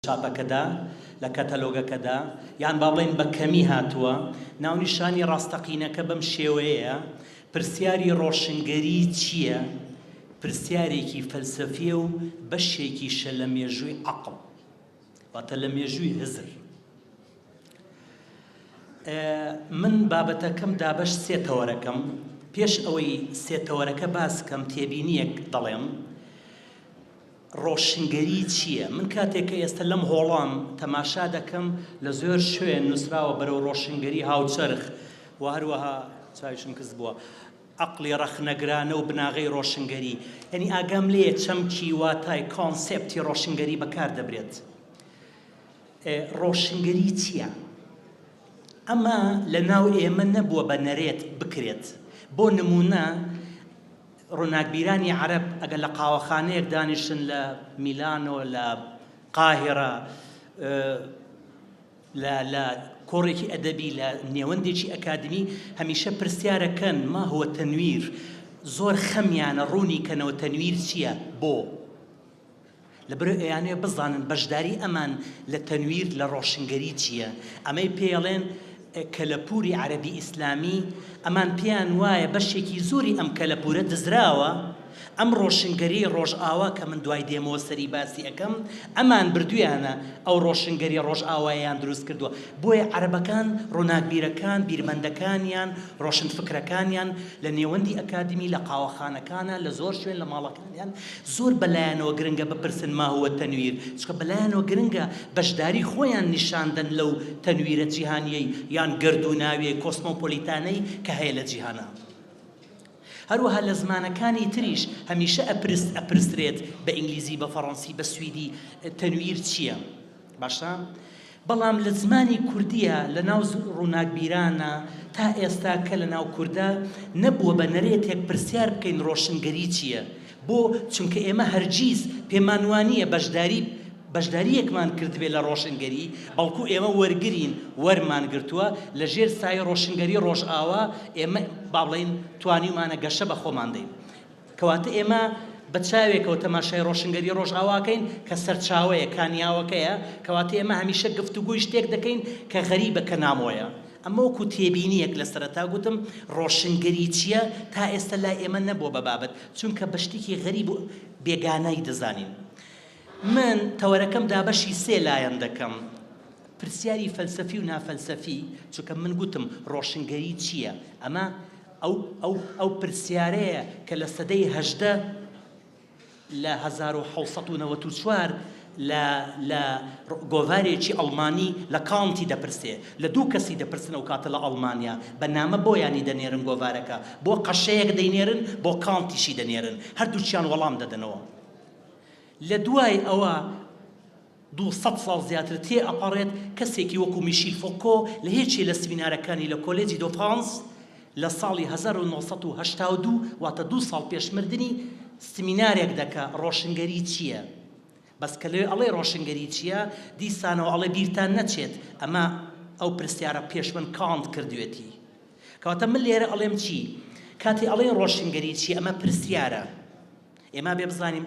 چاپەکەدا، لە کەتەلۆگەکەدا، یان با بڵێین بە کەمی هاتووە، ناونیشانی ڕاستەقینەکە بەم شێوەیەیە، پرسیاری ڕۆشنگەری چییە؟ پرسیارێکی فەلسەفییە و بەشێکیشە لە مێژووی عەقڵ، واتە لە مێژووی هزر. من بابەتەکەم دابەش سێ تەوەرەکەم، پێش ئەوەی سێ تەوەرەکە باس بکەم، تێبینییەک دەڵێم، ڕۆشنگەری چییە؟ من کاتێک کە ئێستا لەم هۆڵەم تەماشا دەکەم لە زۆر شوێن نووسراوە بەرەو ڕۆشنگەری هاوچەرخ و هەروەها چاویشم کز بووە عەقڵی ڕەخنەگرانە و بناغەی ڕۆشنگەری یانی ئاگام لێیە چەمکی واتای کۆنسێپتی ڕۆشنگەری بەکار دەبرێت ڕۆشنگەری چییە؟ ئەمە لەناو ئێمە نەبووە بە نەرێت بکرێت بۆ نموونە ڕووناکبیرانی عەرەب ئەگەر لە قاوەخانەیەک دانیشتن لە میلانۆ، لە قاهیرە، لە لە کۆڕێکی ئەدەبی، لە نێوەندێکی ئەکادمی، هەمیشە پرسیارەکەن، ما هو تنویر؟ زۆر خەمیانە ڕوونی کەنەوە تەنویر چییە؟ بۆ؟ لەبەرئەوەی ئەیانەوێت بزانن بەشداری ئەمان لە تەنویر لە ڕۆشنگەری چییە، ئەمەی پێیەڵێن کەلەپوری عەرەبی ئیسلامی، ئەمان پێیان وایە بەشێکی زۆری ئەم کەلەپورە دزراوە، ئەم ڕۆشنگەریەی ڕۆژئاوا کە من دوای دێمەوە سەری باسی ئەکەم ئەمان بردویانە ئەو ڕۆشنگەری ڕۆژئاوایەیان دروست کردوە، بۆیە عەرەبەکان ڕوناکبیرەکان بیرمەندەکانیان ڕۆشنفکرەکانیان لە نێوەندی ئەکادمی لە قاوەخانەکانە لە زۆر شوێن لە ماڵەکان. یان زۆر بەلایانەوە گرنگە بپرسن ما هو التنویر چونکە بەلایانەوە گرنگە بەشداری خۆیان نیشان دەن لەو تەنویرە جیهانیەی یان گەردووناویەی کۆسمۆپۆلیتانەی کە هەیە لە جیهانا هەروەها لە زمانەکانی تریش هەمیشە ئەپرس ئەپرسرێت بە ئینگلیزی بە فەڕەنسی بە سویدی تەنویر چیە؟ باشە بەڵام لە زمانی کوردیە لە ناو ڕووناکبیرانە تا ئێستا کە لە ناو کوردا نەبووە بە نەرێتێک پرسیار بکەین ڕۆشنگەری چیە بۆ چونکە ئێمە هەرگیز پێمان وانیە بەشداری بەشداریەکمان کردبێ لە ڕۆشنگەری بەڵکو ئێمە وەرگرین وەرمان گرتووە لە ژێر سایەی ڕۆشنگەری ڕۆژئاوا ئێمە با بڵێین توانیومانە گەشە بە خۆمان دەین کەواتە ئێمە بە چاوێکەوە تەماشای ڕۆشنگەری ڕۆژئاوا ئەکەین کە سەرچاوەیە، کانیاوەکەیە، کەواتە ئێمە هەمیشە گفتوگۆی شتێک دەکەین کە غەریبە، کە نامۆیە. ئەمە وەکو تێبینییەک لە سەرەتا گوتم ڕۆشنگەری چییە، تا ئێستا لای ئێمە نەبووە بە بابەت، چونکە بە شتێکی غەریب و بێگانای دەزانین. من تەوەرەکەم دابەشی سێ لایەن دەکەم، پرسیاری فەلسەفی و نافەلسەفی، چونکە من گوتم ڕۆشنگەری چییە، ئەمە، ئەو ئەو پرسیارەیە کە لە سەدەی هەژدە لە هەزار و حەوت سەد و نەوەد و چوار لە لە گۆڤارێکی ئەڵمانی لە کانتی دەپرسێ لە دوو کەسی دەپرسن ئەو کاتە لە ئەڵمانیا بە نامە بۆیانی دەنێرن گۆڤارەکە بۆ قەشەیەک دەینێرن بۆ کانتیشی دەنێرن هەردووکیان وەڵام دەدەنەوە لە دوای ئەوە دوو سەد ساڵ زیاتر تێ ئەپەڕێت کەسێکی وەکو میشیل فۆکۆ لە یەکێ لە سمینارەکانی لە کۆلێجی دۆ فرانس لە ساڵی هەزار و نۆ سەد و هەشتا و دوو واتە دوو ساڵ پێش مردنی سمینارێک دەکا ڕۆشنگەری چیە بەس کە لەوێ ئەڵێ ڕۆشنگەری چیە دیسانەوە ئەڵێ بیرتان نەچێت ئەمە ئەو پرسیارە پێش من کانت کردوێتی کەواتە من لێرە ئەڵێم چی کاتێ ئەڵێن ڕۆشنگەری چیە ئەمە پرسیارە ئێمابێ بزانین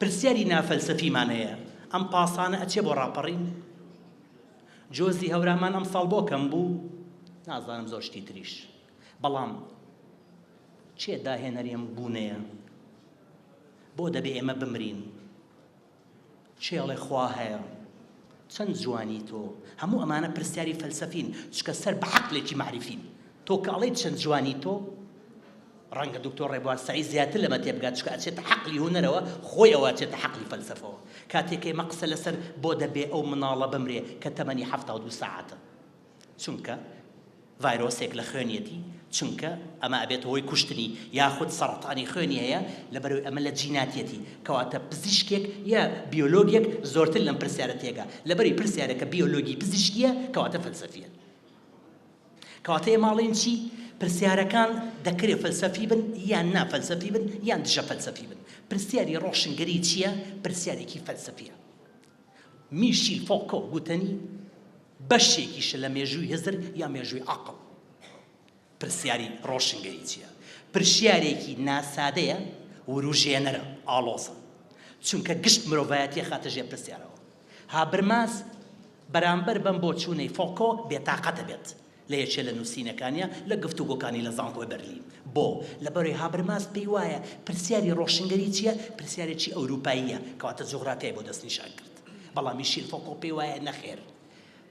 پرسیاری نافەلسەفیمان هەیە، ئەم پاسانە ئەچێ بۆ ڕاپەڕین؟ جۆزی هەورامان ئەمساڵ بۆ کەم بوو؟ نازانم زۆر شتی تریش. بەڵام کێ داهێنەری ئەم بوونەیە؟ بۆ دەبێ ئێمە بمرین؟ کێ ئەڵێ خوا هەیە؟ چەند جوانی تۆ! هەموو ئەمانە پرسیاری فەلسەفین، چونکە سەر بە عەقلێکی مەعریفین. تۆ کە ئەڵێیت چەند جوانی تۆ، ڕەنگە دوکتۆر ڕێبوار سەعید زیاتر لەمە تێبگات، چونکە ئەچێتە عەقڵی هونەرەوە، خۆی ئەوە ئەچێتە عەقڵی فەلسەفەوە. کاتێک ئێمە قسە لەسەر بۆ دەبێ ئەو مناڵە بمرێ کە تەمەنی حەفتا و دوو سەعاتە؟ چونکە ڤایرۆسێک لە خوێنیەتی چونکە ئەمە ئەبێتە هۆی کوشتنی یاخود سەڕەتانی خوێنی هەیە لەبەرەوەی ئەمە لە جیناتیەتی کەواتە پزیشکێک یا بیۆلۆگێک زۆرتر لەم پرسیارە تێگا لەبەری پرسیارەکە بیۆلۆگی پزیشکیە کەواتە فەلسەفیە کەواتە ئێمە ئەڵێن چی پرسیارەکان دەکرێ فەلسەفی بن یان نا فەلسەفی بن یان دژە فەلسەفی بن پرسیاری ڕۆشنگەری چییە پرسیارێکی فەلسەفیە میشیل فۆکۆ گوتەنی بەشێکیشە لە مێژووی هزر یا مێژووی عەقڵ. پرسیاری ڕۆشنگەری چییە؟ پرسیارێکی ناسادەیە، ورووژێنەرە، ئاڵۆزە. چونکە گشت مرۆڤایەتی ئەخاتە ژێر پرسیارەوە. هابرماس بەرامبەر بەم بۆچوونەی فۆکۆ بێتاقەت ئەبێت. لە یەکێ لە نووسینەکانیا لە گفتوگۆکانی لە زانکۆی بەرلین بۆ، لەبەرەی هابرماس پێی وایە پرسیاری ڕۆشنگەری چییە پرسیارێکی ئەورووپاییە کەواتە جوغرافیای بۆ دەستنیشان کرد بەڵام میشیل فۆکۆ پێی وایە نەخێر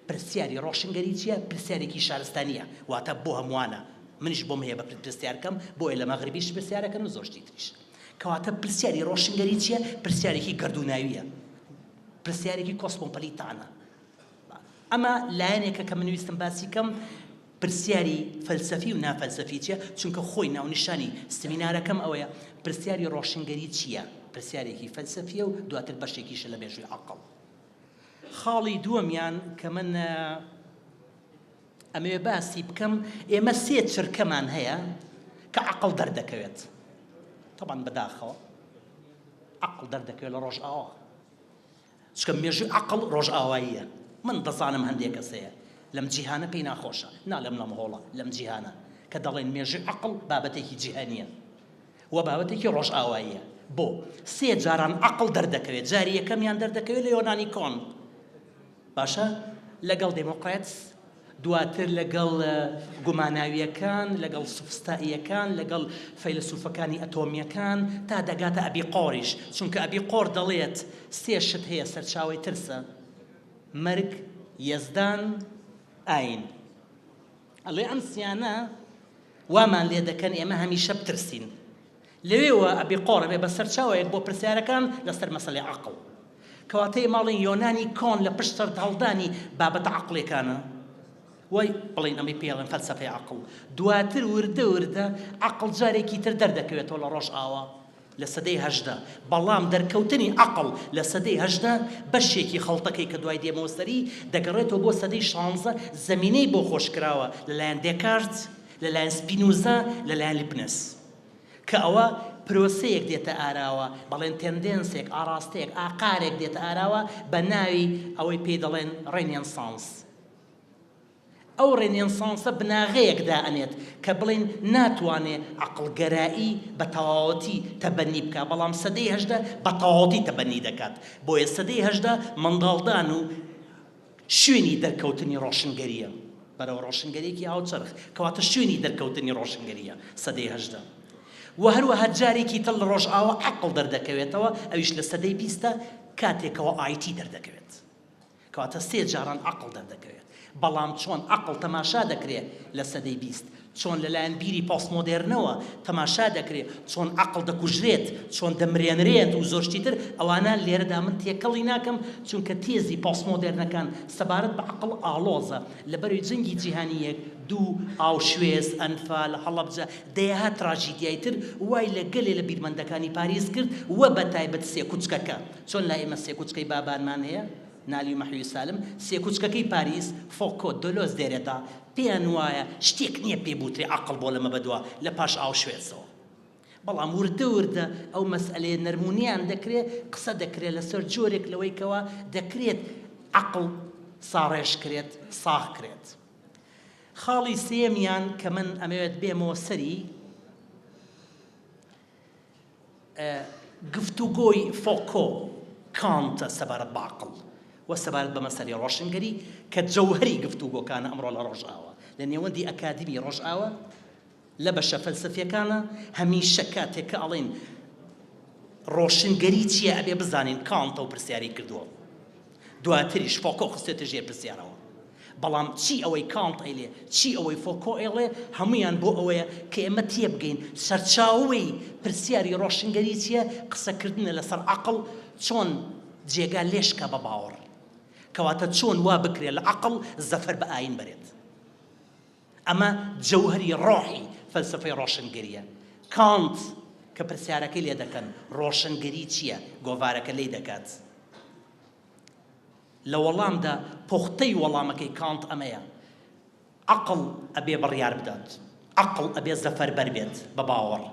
پرسیاری ڕۆشنگەری چییە پرسیارێکی شارستانییە واتە بۆ هەمووانە منیش بۆم هەیە بەپلت پرسیار بکەم بۆیە لە مەغریبیش پرسیار ئەکەن و زۆر شتی تریش کەواتە پرسیاری ڕۆشنگەری چییە پرسیارێکی گەردووناوییە پرسیارێکی کۆسمۆپلیتانە. ئەمە لایەنێکە کە من ویستم باسی کەم، پرسیاری فەلسەفی و نافەلسەفی چیە؟ چونکە خۆی ناونیشانی سمینارەکەم ئەوەیە، پرسیاری ڕۆشنگەری چیە؟ پرسیارێکی فەلسەفیە و دواتر بەشێکیشە لە مێژووی عەقڵ. خاڵی دووەمیان کە من ئەمەوێ باسی بکەم، ئێمە سێ چرکەمان هەیە کە عەقڵ دەردەکەوێت، تەبعەن بەداخەوە عەقڵ دەردەکەوێت لە ڕۆژئاوا، چکە مێژوی عەقڵ ڕۆژئاواییە من دەزانم هەندێ کەس هەیە لەم جیهانە پێی ناخۆشە نالێم لەم هۆڵە لەم جیهانە کە دەڵێن مێژوی عەقڵ بابەتێکی جیهانیە و بابەتێکی ڕۆژئاواییە بۆ سێ جاران عەقڵ دەردەکەوێت جاری یەکەمیان دەردەکەوێت لە یۆنانی کۆن باشە لەگەڵ دێمۆکڕێتس دواتر لەگەڵ گوماناوییەکان، لەگەڵ سوفستائییەکان، لەگەڵ فەیلەسوفەکانی ئەتۆمییەکان، تا دەگاتە ئەبیقۆریش، چونکە ئەبیقۆر دەڵێت سێ شت هەیە سەرچاوەی ترسە، مەرگ، یەزدان، ئایین. ئەڵێ ئەم سیانە وامان لێدەکەن ئێمە هەمیشە بترسین. لەوێوە ئەبێ قۆڕ ئەبێ بە سەرچاوەیەک بۆ پرسیارەکان لەسەر مەسەلەی عەقڵ. کەواتە ئێمە ئەڵێین یۆنانی کۆن لە پشت سەرهەڵدانی بابەتە عەقڵیەکانە و بڵێین ئەمەی پێ ئەڵێن فەلسەفەی عەقڵ. دواتر وردە وردە عەقڵ جارێکی تر دەردەکەوێتەوە لە ڕۆژئاوا لە سەدەی هەژدە. بەڵام دەرکەوتنی عەقڵ لە سەدەی هەژدە بەشێکی خەڵتەکەی کە دوای دێمەوە سەری دەگەڕێتەوە بۆ سەدەی شانزە زەمینەی بۆ خۆش کراوە لە لایەن دێکارت، لە لایەن سپینوزا، لە لایەن لیپنس. کە ئەوە پرۆسەیەک دێتە ئاراوە، بەڵێن تێندێنسێک، ئاڕاستەیەک، ئاقارێک دێتە ئاراوە بە ناوی ئەوەی پێی دەڵێن ڕێنێنسانس. ئەو ڕێنێنسانسە بناغەیەک دائەنێت کە بڵێین ناتوانێ عەقڵگەرایی بە تەواوەتی تەبەنی بکا، بەڵام سەدەی هەژدە بە تەواوەتی تەبەنی دەکات. بۆیە سەدەی هەژدە منداڵدان و. شوێنی دەرکەوتنی ڕۆشنگەرییە بەرەو ڕۆشنگەرییەکی هاوچەرخ، کەواتە شوێنی دەرکەوتنی ڕۆشنگەرییە سەدەی هەژدە و هەروەها جارێکی تر لە ڕۆژئاوا عەقڵ دەردەکەوێتەوە ئەویش لە سەدەی بیستە کاتێکەوە ئایتی دەردەکەوێت کەواتە سێ جاران عەقڵ دەردەکەوێت بەڵام چۆن عەقڵ تەماشا دەکرێت لە سەدەی بیست چۆن لەلایەن بیری پۆستمۆدێرنەوە تەماشا دەکرێت، چۆن عەقڵ دەکوژرێت، چۆن دەمرێنرێت و زۆر شتی تر، ئەوانە لێرەدا من تێکەڵی ناکەم، چونکە تێزی پۆستمۆدێرنەکان سەبارەت بە عەقڵ ئاڵۆزە. لەبەرەی جەنگی جیهانی یەک، دوو، ئاوشوێز، ئەنفال، هەڵەبجە، دەیەها تراژیدیای تر وای لە گەلێ لە بیرمەندەکانی پاریس کرد و بە تایبەت سێکوچکەکە. چۆن لای ئێمە سێکوچکەی بابانمان هەیە؟ نالی و مەحوی سالم، سێ کوچکەکەی پاریس، فۆکۆ، دۆلۆز، دێرێدا، پێیان وایە شتێک نییە پێی بوترێ عەقڵ بۆ لەمە بەدوا لە پاش ئاوشوێتزەوە. بەڵام وردە وردە ئەو مەسئەلەیە نەرم و نیان دەکرێ، قسە دەکرێ لەسەر جۆرێک لەوەی کەوا دەکرێت عەقڵ ساڕێژ کرێت، ساغ کرێت. خاڵی سێیەمیان کە من ئەمەوێت بێمەوە سەری، گفتوگۆی فۆکۆ، کانت سەبارەت بە عەقڵ و سەبارەت بە مەسەلەی ڕۆشنگەری کە جەوهەری گفتوگۆکانە ئەمڕۆ لە ڕۆژئاوا لە نێوەندی ئەکادیمی ڕۆژئاوا لە بەشە فەلسەفیەکانا هەمیشە کاتێک کە ئەڵێین ڕۆشنگەری چیە ئەبێ بزانین کانت ئەو پرسیارەی کردوە. دواتریش فۆکۆ خستێتە ژێر پرسیارەوە. بەڵام چی ئەوەی کانت ئەیڵێ، چی ئەوەی فۆکۆ ئەیڵێ، هەموویان بۆ ئەوەیە کە ئێمە تێبگەین سەرچاوەی پرسیاری ڕۆشنگەری چییە، قسەکردنە لەسەر عەقڵ چۆن جێگا لێشکا بە باوەڕ. کەواتە چۆن وا بکرێ لە عەقڵ زەفەر بە ئایین بەرێت. ئەمە جەوهەری ڕۆحی فەلسەفەی ڕۆشنگەرییە. کانت کە پرسیارەکەی لێ دەکەن، ڕۆشنگەری چییە؟ گۆڤارەکە لێی دەکات. لە وەڵامدا پوختەی وەڵامەکەی کانت ئەمەیە، عەقڵ ئەبێ بڕیار بدات. عەقڵ ئەبێ زەفەربەر بێت بە باوەڕ.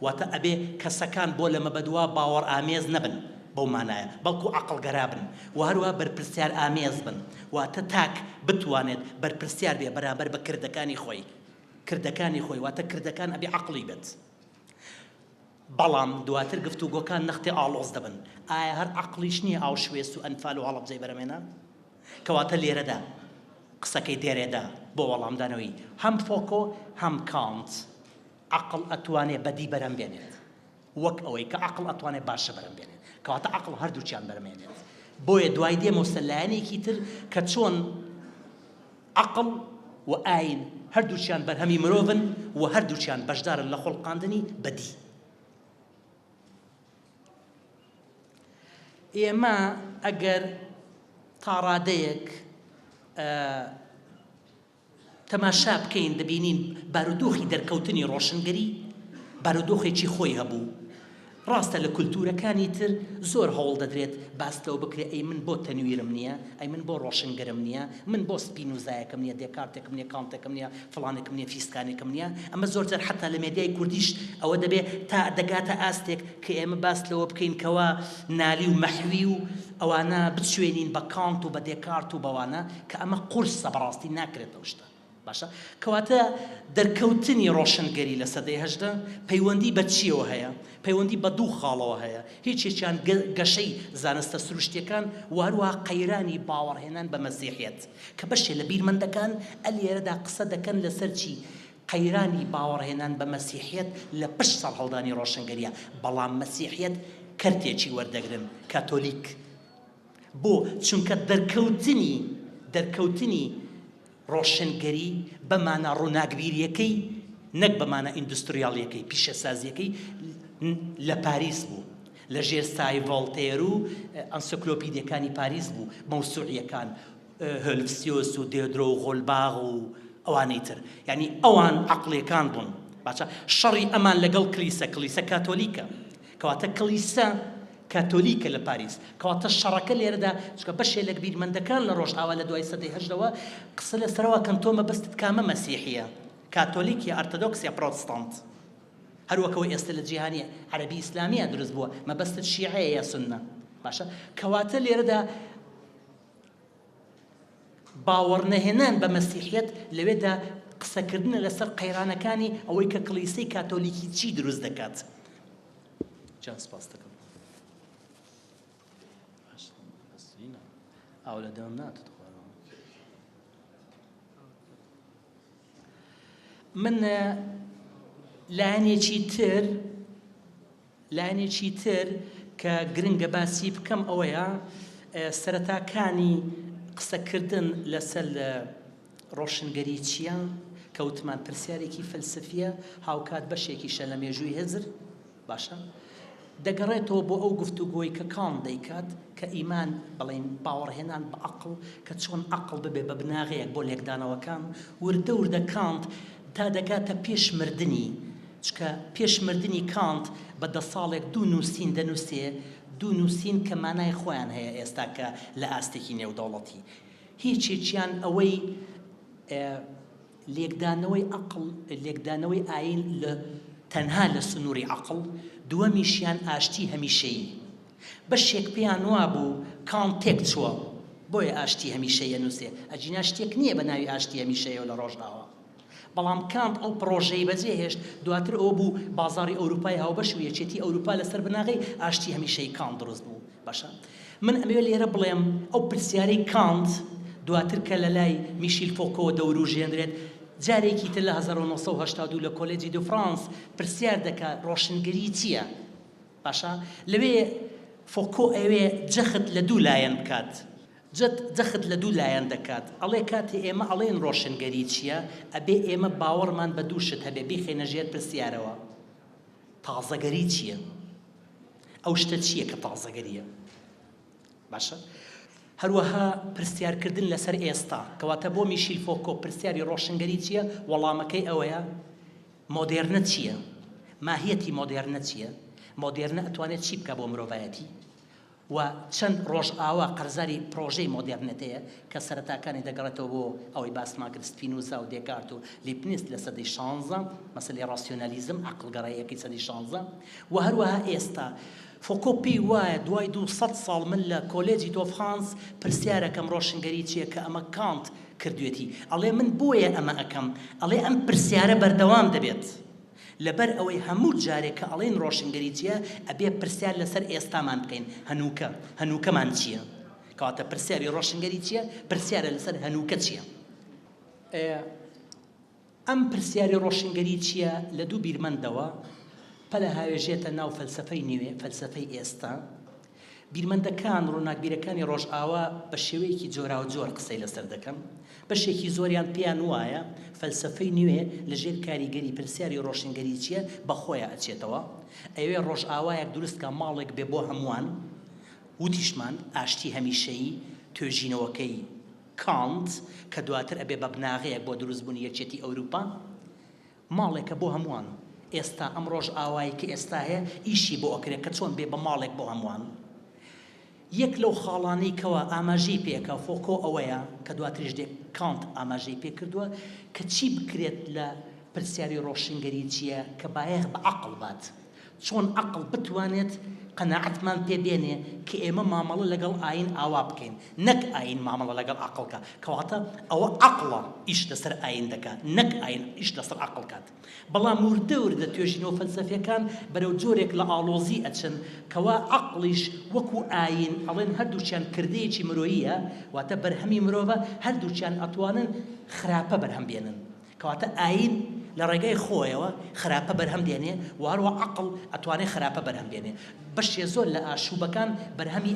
واتە ئەبێ کەسەکان بۆ لە مەبەدوا باوەڕئامێز نەبن بەو مانایە، بەڵکو عەقڵگەرا بن و هەروەها بەرپرسیارئامێز بن، واتە تاک بتوانێت بەرپرسیار بێ بەرامبەر بە کردەکانی خۆی، کردەکانی خۆی واتە کردەکان ئەبێ عەقڵی بێت. بەڵام دواتر گفتوگۆکان نەختێ ئاڵۆز دەبن، ئایا هەر عەقڵیش نییە ئاوشوێس و ئەنفال و هەڵەبجەی بەرەمێنا؟ کەواتە لێرەدا قسەکەی دێرێدا بۆ وەڵامدانەوەی هەم فۆکۆ هەم کانت، عەقڵ ئەتوانێ بەدی بەرهەم بێنێت وەک ئەوەی کە عەقڵ ئەتوانێ باشە بەرهەم بێنێت کەواتە عەقڵ هەردووکیان بەرم هێنێت بۆیە دوای دێ مەوسە لایەنێکی تر کە چۆن عەقڵ و ئاین هەردووکیان بەرهەمی مرۆڤن و هەردووکیان بەشدارن لە خۆڵقاندنی بەدی ئێمە ئەگەر تاڕادەیەک تەماشا بکەین دەبینین بارودۆخی دەرکەوتنی ڕۆشنگەری بارودۆخێکی خۆی هەبوو. ڕاستە لە کولتوورەکانی تر زۆر هەوڵ دەدرێت باس لەوە بکرێت ئەی من بۆ تەنویرم نییە؟ ئەی من بۆ ڕۆشنگەرم نییە؟ من بۆ سپینوزایەکم نییە، دێکارتێکم نییە، کانتێکم نییە، فڵانێکم نییە، فیستانێکم نییە؟ ئەمە زۆر جار حەتا لە مێدیای کوردیش ئەوە دەبێت تا دەگاتە ئاستێک کە ئێمە باس لەوە بکەین کەوا نالی و مەحوی و ئەوانە بچوێنین بە کانت و بە دێکارت و بەوانە کە ئەمە قورسە بەڕاستی ناکرێت ئەو شتە باشە کەواتە دەرکەوتنی ڕۆشنگەری لە سەدەی هەژدە پەیوەندی بە چیەوە هەیە پەیوەندی بە دوو خاڵەوە هەیە هیچ یەکیان گەشەی زانستە سروشتیەکان و هەروەها قەیرانی باوەڕهێنان بە مەسیحیەت کە بەشێ لە بیرمەندەکان ئەلێرەدا قسە دەکەن لەسەر چی قەیرانی باوەڕهێنان بە مەسیحیەت لە پشت سەرهەڵدانی ڕۆشنگەریە، بەڵام مەسیحیەت کەرتێکی وەردەگرن، کاتۆلیک. بۆ؟ چونکە دەرکەوتنی دەرکەوتنی ڕۆشنگەری بە مانا ڕووناکبیریەکەی نەک بە مانا ئیندوستریالیەکەی، پیشەسازیەکەی، لە پاریس بوو، لە ژێر سایەی ڤۆڵتێر و ئەنسیکلۆپیدیەکانی پاریس بوو، مەوسوعیەکان، هۆلفسیۆس و دێدرۆ و غۆلباغ و ئەوانی تر یعنی ئەوان عەقڵیەکان بوون باشە شەڕی ئەمان لەگەڵ کلیسە کلیسە کاتۆلیکە کەواتە کلیسە کاتۆلیکە لە پاریس کەواتە شەڕەکە لێرەدا چکە بەشێ لە بیرمەندەکان لە ڕۆژئاوا لە دوای سەدەی هەژدەوە قسە لە سەرەوە کەن تۆ مەبەستت کامە مەسیحیە کاتۆلیک یا ئەرتەدۆکس یا پرۆتستانت هەروەکەوە ئێستا لە جیهانی عەربی ئیسلامیە دروست بووە مەبەستت شیعەیە یا سنە باشە کەواتە لێرەدا باوەڕنەهێنان بە مەسیحیەت لەوێدا قسەکردنە لەسەر قەیرانەکانی ئەوەی کە کڵیسەی کاتۆلیکی چی دروست دەکات. جان سپاس دەکەم. ئاو لە دەم ناتت من لایەنێکی تر لایەنێکی تر کە گرنگە باسی بکەم ئەوەیە سەرەتاکانی قسەکردن لەسەر ڕۆشنگەریچییە کە وتمان پرسیارێکی فەلسەفییە، هاوکات بەشێکیشە لە مێژووی هزر، باشە؟ دەگەڕێتەوە بۆ ئەو گفتوگۆی کە کانت دەیکات کە ئیمان، بەڵێن باوەڕهێنان بە عەقڵ، کە چۆن عەقڵ ببێ بە بناغەیەک بۆ لێکدانەوەکان، وردە وردە کانت، تا دەگاتە پێش مردنی، چکە پێش مردنی کانت بە دە ساڵێک دوو نووسین دەنووسێ، دوو نووسین کە مانای خۆیان هەیە ئێستا کە لە ئاستێکی نێودەوڵەتی هیچێکیان ئەوەی لێکدانەوەی عەقڵ، لێکدانەوەی ئایین لە تەنها لە سنووری عەقڵ، دووەمیشیان ئاشتی هەمیشەیی. بەشێک پێیان وابوو کان تێک چووە بۆیە ئاشتی هەمیشەیی ئەنووسێ، ئەگینا شتێک نییە بە ناوی ئاشتی هەمیشەیی لە ڕۆژئاوا. بەڵام کانت ئەو پڕۆژەی بەجێ هێشت، دواتر ئەوە بوو بازاڕی ئەوروپای هاوبەش و یەکێتی ئەوروپا لە سەر بناغەی ئاشتی هەمیشەیی کانت دروست بوو. باشە من ئەمەوێ لێرە بڵێم ئەو پرسیارەی کانت دواتر کە لە لای میشیل فۆکۆوە دەورووژێنرێت، جارێکی تر لە هەزار و نۆ سەد و هەشتا و دوو لە کۆلێجی دو فرانس پرسیار دەکات ڕۆشنگەری چییە؟ باشە لەوێ فۆکۆ ئەوێ جەخت لە دوو لایەن بکات جەت جەخت لە دوو لایەن دەکات ئەڵێ کاتێ ئێمە ئەڵێن ڕۆشنگەری چییە ئەبێ ئێمە باوەڕمان بە دوو شت هەبێ بیخەینە ژێر پرسیارەوە تازەگەری چییە ئەو شتە چییە کە تازەگەرییە باشە هەروەها پرسیار کردن لەسەر ئێستا کەواتە بۆ میشیل فۆکۆ پرسیاری ڕۆشنگەری چییە وەڵامەکەی ئەوەیە مۆدێرنە چییە؟ ماهیەتی مۆدێرنە چییە؟ مۆدێرنە ئەتوانێت چی بکات بۆ مرۆڤایەتی؟ و چەند ڕۆژئاوا قەرزاری پڕۆژەی مۆدێرنێتەیە کە سەرەتاکانی دەگەڕێتەوە بۆ ئەوەی باسمان کرد سپینوزا و دێکارت و لیپنیس لە سەدەی شانزە، مەسەلەی ڕاسیۆنالیزم، عەقڵگەراییەکەی سەدەی شانزە، و هەروەها ئێستا. فوکۆ پێی وایە دوای دوو سەد ساڵ من لە کۆلێجی دۆفرانس پرسیارەکەم ڕۆشنگەری چیە کە ئەمە کانت کردوێتی ئەڵێ من بۆیە ئەمە ئەکەم ئەڵێ ئەم پرسیارە بەردەوام دەبێت لەبەر ئەوەی هەموو جارێ کە ئەڵێین ڕۆشنگەری چیە ئەبێ پرسیار لەسەر ئێستامان بکەین هەنووکە هەنووکەمان چیە کەواتە پرسیاری ڕۆشنگەری چیە پرسیارە لەسەر هەنووکە چیە ئەیە ئەم پرسیاری ڕۆشنگەری چییە لە دوو بیرمەندەوە پەلهاوێژێتە ناو فەلسەفەی نوێ، فەلسەفەی ئێستا. بیرمەندەکان، ڕووناکبیرەکانی ڕۆژئاوا بە شێوەیەکی جۆراوجۆر قسەی لەسەر دەکەن. بەشێکی زۆریان پێیان وایە فەلسەفەی نوێ لە ژێر کاریگەری پرسیاری ڕۆشنگەری چییە بە خۆیا ئەچێتەوە. ئەیەوێ ڕۆژئاوایەک دروست کا ماڵێک بێ بۆ هەمووان. وتیشمان، ئاشتی هەمیشەیی توێژینەوەکەی. کانت کە دواتر ئەبێ بە بناغەیەک بۆ دروست بوونی یەکێتی ئەوروپا، ماڵێکە بۆ هەمووان، ئێستا ئەم ڕۆژئاوای کە ئێستا هەیە ئیشی بۆ ئەکرێ کە چۆن بێ بە ماڵێک بۆ هەمووان. یەک لەو خاڵانەی کەوا ئاماژەی پێ ئەکا فۆکۆ ئەوەیە، کە دواتریش دێ کانت ئاماژەی پێ کردووە، کە چی بکرێت لە پرسیاری ڕۆشنگەریی کە بایەخ بە عەقڵ بات، چۆن ئەقڵ بتوانێت قەناعەتمان پێ بێنێ کە ئێمە مامەڵە لەگەڵ ئایین ئاوا بکەین، نەک ئایین مامەڵە لەگەڵ ئەقڵ کا، کەواتە ئەوە ئەقڵە ئیش لەسەر ئایین دەکا، نەک ئایین ئیش لەسەر ئەقڵ کات. بەڵام وردە وردە توێژینەوە فەلسەفییەکان بەرەو جۆرێک لە ئاڵۆزی ئەچن کەوا ئەقڵیش وەکوو ئایین ئەڵێن هەردووکیان کردەیەکی مرۆییە، واتە بەرهەمی مرۆڤە، هەردووکیان ئەتوانن خراپە بەرهەم بێنن. کەواتە ئایین لە ڕێگای خۆیەوە خراپە بەرهەم دێنێ و هەروەها عەقڵ ئەتوانێ خراپە بەرهەم دێنێ. بەشێ زۆر لە ئاشووبەکان بەرهەمی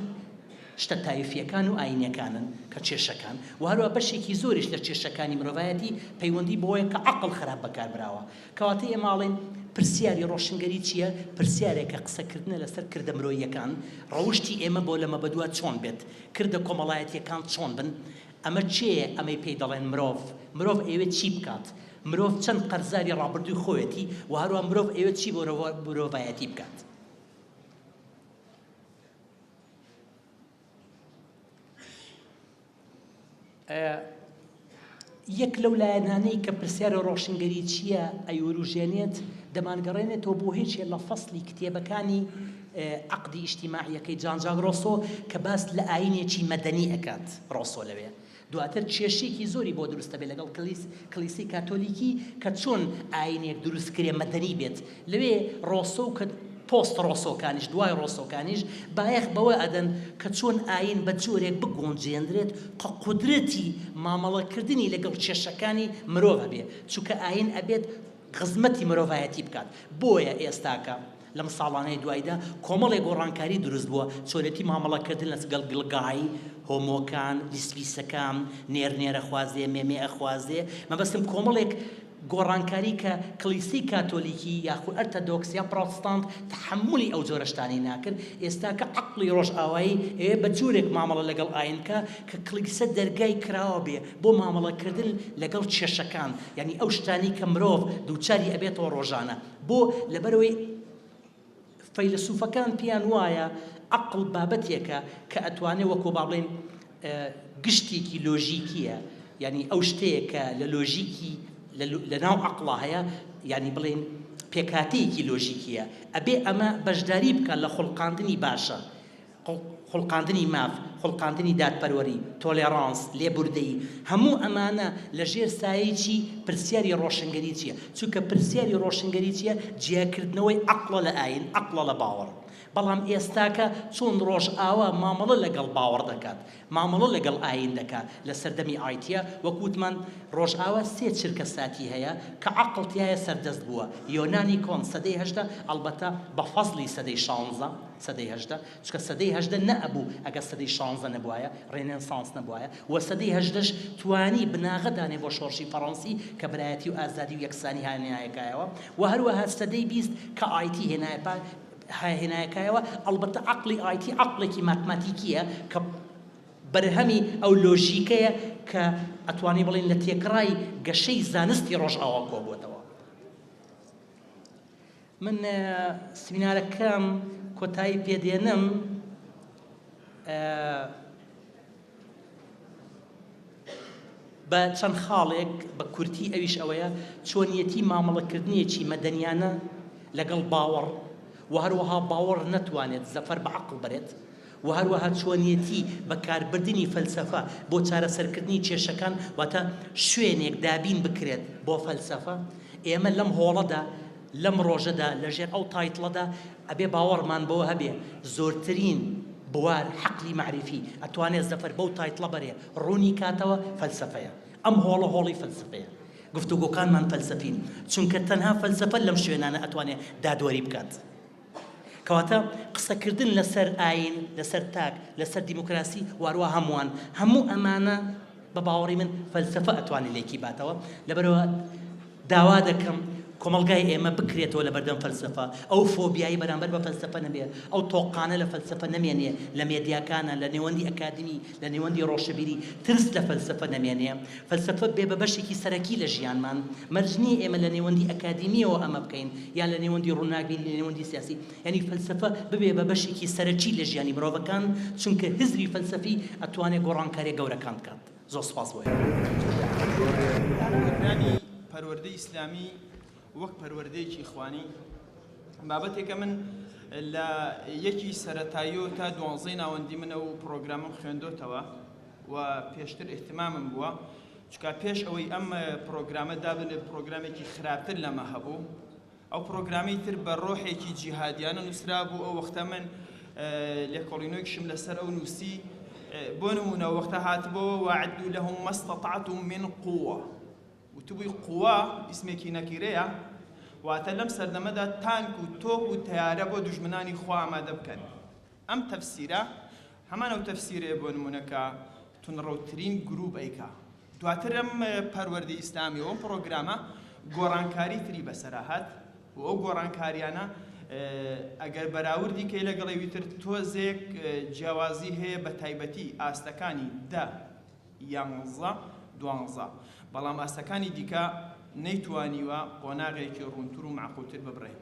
شتە تایفییەکان و ئایینییەکانن کە کێشەکان و هەروەها بەشێکی زۆریش لە کێشەکانی مرۆڤایەتی پەیوەندی بەوەیە کە عەقڵ خراپ بەکار براوە. کەواتە ئێمە ئەڵێین پرسیاری ڕۆشنگەری چییە؟ پرسیارێکە قسەکردنە لەسەر کردە مرۆییەکان، ڕەوشتی ئێمە بۆ لەمەبەدوا چۆن بێت؟ کردە کۆمەڵایەتییەکان چۆن بن؟ ئەمە کێیە ئەمەی پێی دەڵێن مرۆڤ؟ مرۆڤ ئەیەوێت چی بکات؟ مرۆڤ چەند قەرزاری ڕابردووی خۆیەتی و هەروەها مرۆڤ ئەیەوێت چی بۆ مرۆڤایەتی بکات؟ یەک لەو لایەنانەی کە پرسیارە ڕۆشنگەریچیە ئەیوروژێنێت دەمانگەڕێنێتەوە بۆ هێچێ لە فەسلی کتێبەکانی عەقدی ئیجتیماعیەکەی جان جاک ڕۆسۆ کە باس لە ئاینێکی مەدەنی ئەکات ڕۆسۆ لەوێ دواتر کێشەیەکی زۆری بۆ دروست ئەبێت لەگەڵ کلیس کلیسەی کاتۆلیکی کە چۆن ئاینێک دروست کرێ مەدەنی بێت لەوێ ڕۆسۆ و کە پۆست ڕۆسۆکانیش دوای ڕۆسۆکانیش بایەخ بەوە ئەدەن کە چۆن ئاین بە جۆرێک بگونجێنرێت کە قودرەتی مامەڵە کردنی لەگەڵ کێشەکانی مرۆڤ هەبێ چونکە ئاین ئەبێت خزمەتی مرۆڤایەتی بکات بۆیە ئێستاکە لەم ساڵانەی دوایدا کۆمەڵێ گۆڕانکاری دروست بووە، چۆنێتی مامەڵەکردن لەسگەڵ گڵگای، هۆمۆکان، لیسبیسەکان، نێرنێرەخوازێ، مێمێەخوازێ، مەبەستم کۆمەڵێک گۆڕانکاری کە کڵیسەی کاتۆلیکی یاخو ئەرتەدۆکس یا پڕۆتستانت تەحەمولی ئەو جۆرە شتانەی ناکرد، ئێستاکە عەقڵی ڕۆژئاوایی ئەوێ بە جۆرێک مامەڵە لەگەڵ ئاین بکا کە کڵیسە دەرگای کراوە بێ بۆ مامەڵەکردن لەگەڵ کێشەکان، یانی ئەو شتانەی کە مرۆڤ دووچاری ئەبێتەوە ڕۆژانە. بۆ؟ لەبەرئەوەی فەیلەسوفەکان پێیان وایە عەقڵ بابەتێکە کە ئەتوانێ وەکۆ با بڵێین گشتێکی لۆژیکیە یعنی ئەو شتەیە کە لە لۆژیکی لە ناو عەقڵا هەیە یعنی بڵێین پێکاتەیەکی لۆژیکیە ئەبێ ئەمە بەشداری بکە لە خوڵقاندنی باشە خوڵقاندنی ماف، خوڵقاندنی دادپەروەری، تۆلێڕانس، لێبوردەیی، هەموو ئەمانە لە ژێر سایەی چی؟ پرسیاری ڕۆشنگەری چییە؟ چونکە پرسیاری ڕۆشنگەری چییە؟ جیاکردنەوەی عەقڵە لە ئایین، عەقڵە لە باوەڕ. بەڵام ئێستاکە چۆن ڕۆژئاوا مامەڵە لەگەڵ باوەڕ دەکات؟ مامەڵە لەگەڵ ئایین دەکا لە سەردەمی ئایتیە وەک وتمان ڕۆژئاوا سێ چرکە ساتی هەیە کە عەقڵ تیایە سەردەست بووە یۆنانی کۆن سەدەی هەژدە ئەڵبەتە بە فەزڵی سەدەی شانزە سەدەی هەژدە چونکە سەدەی هەژدە نەئەبوو ئەگەر سەدەی شانزە نەبوایە ڕێنێنسانس نەبوایە و سەدەی هەژدەش توانی بناغە دانێ بۆ شۆڕشی فەڕەنسی کە برایەتی و ئازادی و یەکسانی هانایە کایەوە و هەروەها سەدەی بیست کە ئایتی هێنایە پا هێنایەکایەوە، ئەڵبەتە عەقڵی ئایتی عەقڵێکی ماتماتیکییە کە بەرهەمی ئەو لۆژیکەیە کە ئەتوانین بڵێین لە تێکڕای گەشەی زانستی ڕۆژئاوا کۆبووەتەوە. من سمینارەکەم کۆتایی پێدێنم. بە چەند خاڵێک بە کورتی ئەویش ئەوەیە چۆنیەتی مامەڵەکردنێکی مەدەنیانە لەگەڵ باوەڕ و هەروەها باوەڕ نەتوانێت زەفەر بە عەقڵ بەرێت و هەروەها چۆنیەتی بەکاربردنی فەلسەفە بۆ چارەسەرکردنی کێشەکان واتە شوێنێک دابین بکرێت بۆ فەلسەفە ئێمە لەم هۆڵەدا لەم ڕۆژەدا لەژێر ئەو تایتڵەدا ئەبێ باوەڕمان بەوە هەبێ زۆرترین بوار حەقلی مەعریفی ئەتوانێ زەفەر بەو تایتڵە بەرێ ڕوونی کاتەوە فەلسەفەیە ئەم هۆڵە هۆڵی فەلسەفەیە گفتوگۆکانمان فەلسەفین چونکە تەنها فەلسەفە لەم شوێنانە ئەتوانێ دادوەری بکات. کەواتە قسەکردن لەسەر ئاین، لەسەر تاک، لەسەر دیموکراسی واروا هەمووان، هەموو ئەمانە بە باوەڕی من فەلسەفە ئەتوانێت لێکی باتەوە، لەبەرەوە داوا دەکەم کۆمەڵگای ئێمە بکرێتەوە لەبەردەم فەلسەفە، ئەو فۆبیای بەرامبەر بە فەلسەفە نەبێت، ئەو تۆقانە لە فەلسەفە نەمێنێت لە مێدیاکانا، لە نێوەندی ئەکادیمی، لە نێوەندی ڕۆشەبیری ترس لە فەلسەفە نەمێنێ، فەلسەفە بێ بە بەشێکی سەرەکی لە ژیانمان، مەرج نییە ئێمە لە نێوەندی ئەکادیمییەوە ئەمە بکەین یا لە نێوەندی ڕووناکبیری لە نێوەندی سیاسی، یانی فەلسەفە ببێ بە بەشێکی سەرەکی لە ژیانی مرۆڤەکان، چونکە هزری فەلسەفی ئەتوانێ گۆڕانکارییە گەورەکان بکات. زۆر سوپاس بۆ ئێوە. دانانی پەروەردەی ئیسلامی. وەک پەروەردەیەکی خوانی بابەتێکە من لە یەکی سەرەتاییۆ تا دوانزەی ناوەندی منە و پرۆگرامم خوێندۆتەوە و پێشتر ئیهتمامم بووە چکا پێش ئەوەی ئەم پرۆگرامە دابنێت پرۆگرامێکی خراپتر لەمە هەبوو ئەو پرۆگرامی تر بە ڕۆحێکی جیهادیانە نووسرا بوو ئەو وەختە من لێکۆڵینۆکیشم لەسەر ئەو نووسی بۆ نمونە وەختە هاتبەوە وعد لەهم مەستەتعتم من قووە وتبووی قوە ئیسمێکی نەکیرەیە، واتە لەم سەردەمەدا تانک و تۆپ و تەیارە بۆ دوژمنانی خوا ئامادە بکەن. ئەم تەفسیرە هەمان ئەو تەفسیرەیە بۆ نموونە کە توندڕەوترین گرووپ ئەیکا. دواتر ئەم پەروەردەی ئیسلامی و ئەم پڕۆگرامە گۆڕانکاری تری بەسەرا هات و ئەو گۆڕانکاریانە ئەگەر بەراوردی کەی لەگەڵ ئەوی تر تۆزێک جیاوازی هەیە بەتایبەتی ئاستەکانی دە یانزە دوانزە، بەڵام ئاستەکانی دیکە نەیتوانیوە قۆناغێکی ڕوونتر و مەعقولتر ببڕێ.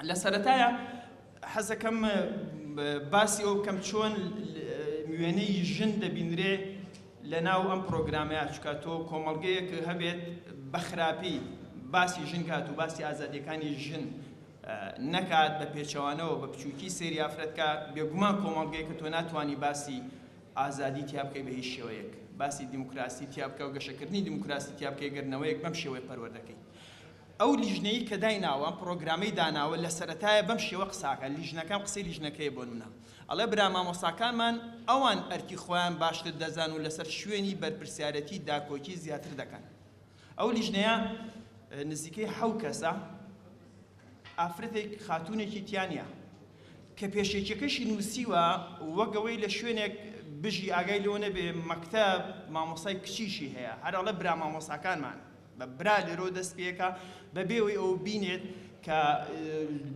لە سەرەتایا حەز دەکەم باسی ئەوە بکەم چۆن وێنەی ژن دەبینرێ لە ناو ئەم پرۆگرامەیە، چونکە تۆ کۆمەڵگەیەک هەبێت بە خراپی باسی ژن کات و باسی ئازادییەکانی ژن نەکات، بە پێچەوانەوە بە بچووکی سەیری ئافرەت کات، بێگومان کۆمەڵگەیەکە تۆ ناتوانی باسی ئازادی تیا بکەی بە هیچ شێوەیەک باسی دیموکراسی تیا بکە و گەشەکردنی دیموکراسی تیا بکەی گەر نەوەیەک بەم شێوەیە پەروەردەکەی ئەو لیژنەیی کە دایناوە ئەم پڕۆگرامەی داناوە لە سەرەتایە بەم شێوە قساکە لیژنەکان قسەی لیژنەکەیە بۆنمونە ئەڵێ برا مامۆستاکانمان ئەوان ئەرکی خۆیان باشتر دەزان و لەسەر شوێنی بەرپرسیارەتی داکۆکی زیاتر دەکەن ئەو لیژنەیە نزیکەی حەو کەسە ئافرەتێک خاتوونێکی تیا نیە کە پێشێکیەکەشی نووسیوە وەک ئەوەی لە شوێنێک بژی ئاگای لەوە نەبێ مەکتەب مامۆستای کچیشی هەیە هەر ئەڵێ برا مامۆستاکانمان بە برا لێرەوە دەست پێەکە بەبێ ئەوەی ئەو بینێت کە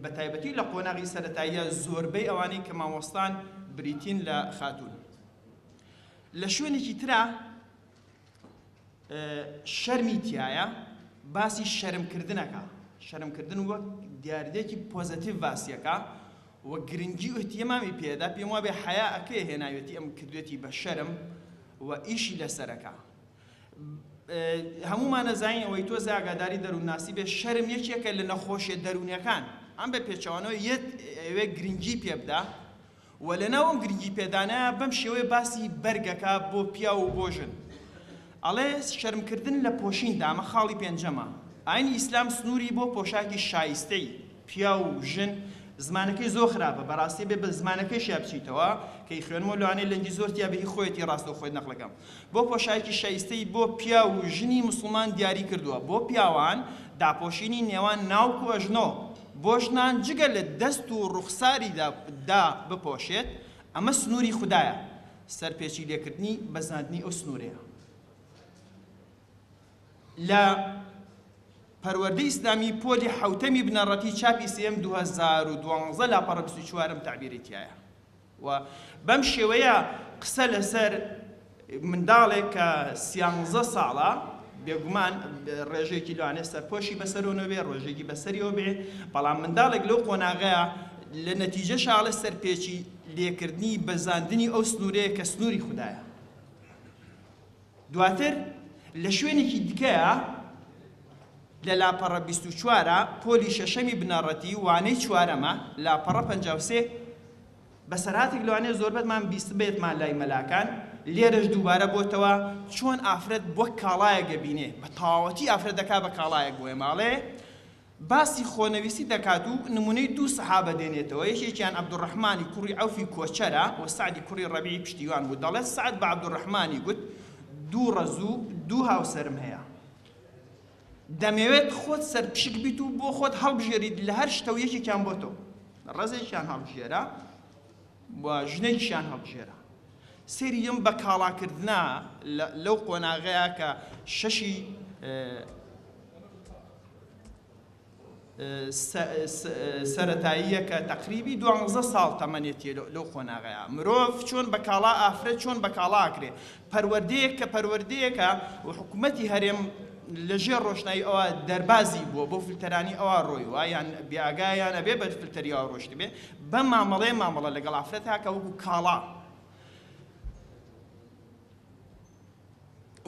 بە تایبەتی لە قۆناغی سەرەتاییە زۆربەی ئەوانەی کە مامۆستان بریتین لە خاتوون لە شوێنێکی ترا شەرمی تیایە باسی شەرم کردنەکە شەرم کردن وەک دیاردەیەکی پۆزەتیڤ باسیەکە و گرنگی و احتیمامی پێدا پێم وابێ حیا ئەکرێ هێناوێتی ئەم کردوێتی بە شەرم و ئیشی لەسەرەکە هەمومانە زانین ئەوەی تۆ زیاگاداری دەروونناسی بێ شەرم یەکێکە لە نەخۆشیە دەروونەکان ئەم بە پێچەوانەوە یەت ئەوێ گرنگی پێبدا و لەناو ئەو گرنگی پێدانەیا بەم شێوەیە باسی بەرگ ئەکا بۆ پیاو و بۆ ژن ئەڵێ شەرم کردن لە پۆشین دا ئەمە خاڵی پێنجەمە ئاینی ئیسلام سنوری بۆ پۆشاکی شایستەی پیاو و ژن زمانەکەی زۆر خراپە بەراستی ئەبێ بە زمانەکەیشیا بچیتەوە کە ی خوێنمەوە لەوانەیە لەنگی زۆر تیابێ هی خۆیەتی راستە خۆی نەقڵ کەم بۆ پۆشاکی شایستەی بۆ پیاو و ژنی موسڵمان دیاری کردوە بۆ پیاوان داپۆشینی نێوان ناوک و ئەژنۆ بۆژنان جگە لە دەست و ڕوخساری دا بپۆشێت، ئەمە سنووری خودایە، سەرپێچی لێکردنی بەزاندنی ئەو سنوورەیە. لە، پەروەردەی ئیسلامی، پۆلی حەوتەمی بنەڕەتی، چاپی سێیەم، دوو هەزار و دوازدە، لاپەڕە بیست و چوارەم تەعبیرەی تیایە. و بەم شێوەیە قسە لەسەر منداڵێک کە سیانزە ساڵە بێگومان ڕێژێکی لەوانێ سەرپۆشی بەسەرۆنە بێ ڕۆژێکی بەسەریەوە بێ بەڵام منداڵێک لەو قۆناغەیە لە نەتیجە شاڵە سەرپێچی لێکردنی بەزاندنی ئەو سنوورەیە کە سنووری خوددایە دواتر لە شوێنێکی دیکەیە لە لاپەڕە بیست و چوار پۆلی شەشەمی بنەڕەتی وانەی چوارەمە لاپەڕە پەنجا و سێ بەسەرهاتێک لەوانەیە زۆربەتمان بیستبێتمان لای مەلاکان لێرەش دووبارە بۆتەوە چۆن ئافرەت وەک کاڵایەک دەبینێ بە تەواوەتی ئافرەت دەکا بە کاڵایەک بۆیە ماڵێ باسی خۆنەویستی دەکات و نموونەی دوو سەحابە دێنێتەوە، یەکێکیان عەبدولڕەحمانی کوڕی عەوفی کۆچەرە و سەعدی کوڕی ڕەبیعی پشتیوان بوو، دەڵێت، سەعد بە عەبدولڕەحمانی گوت، دوو ڕەز و دوو هاوسەرم هەیە. دەمەوێت خۆت سەرپشک بیت و بۆ خۆت هەڵبژێریت لە هەر شتە و یەکێکیان بۆ تۆ ڕەزێکیان هەڵبژێرە. و ژنێکیشیان هەڵبژێرا. سەیری ئەم بەکاڵاکردنە لەو قۆناغەیە کە شەشی سەرەتاییە کە تەقریبی دوانزە ساڵ تەمەنێتیە لەو قۆناغەیە مرۆڤ چۆن بەکاڵا ئافرەت چۆن بەکاڵا ئەکرێ پەروەردەیەک کە پەروەردەیەکە و حکومەتی هەرێم لە ژێر ڕۆشنایی ئەوە دەربازی بووە بۆ فلتەرانی ئەوا ڕۆیوە یان بێ ئاگایە یان ئەبێ بە فلتەری ئەوا ڕۆشتبێ بەم مامەڵەیە مامەڵە لەگەڵ ئافرەت هاکە وەکو کاڵا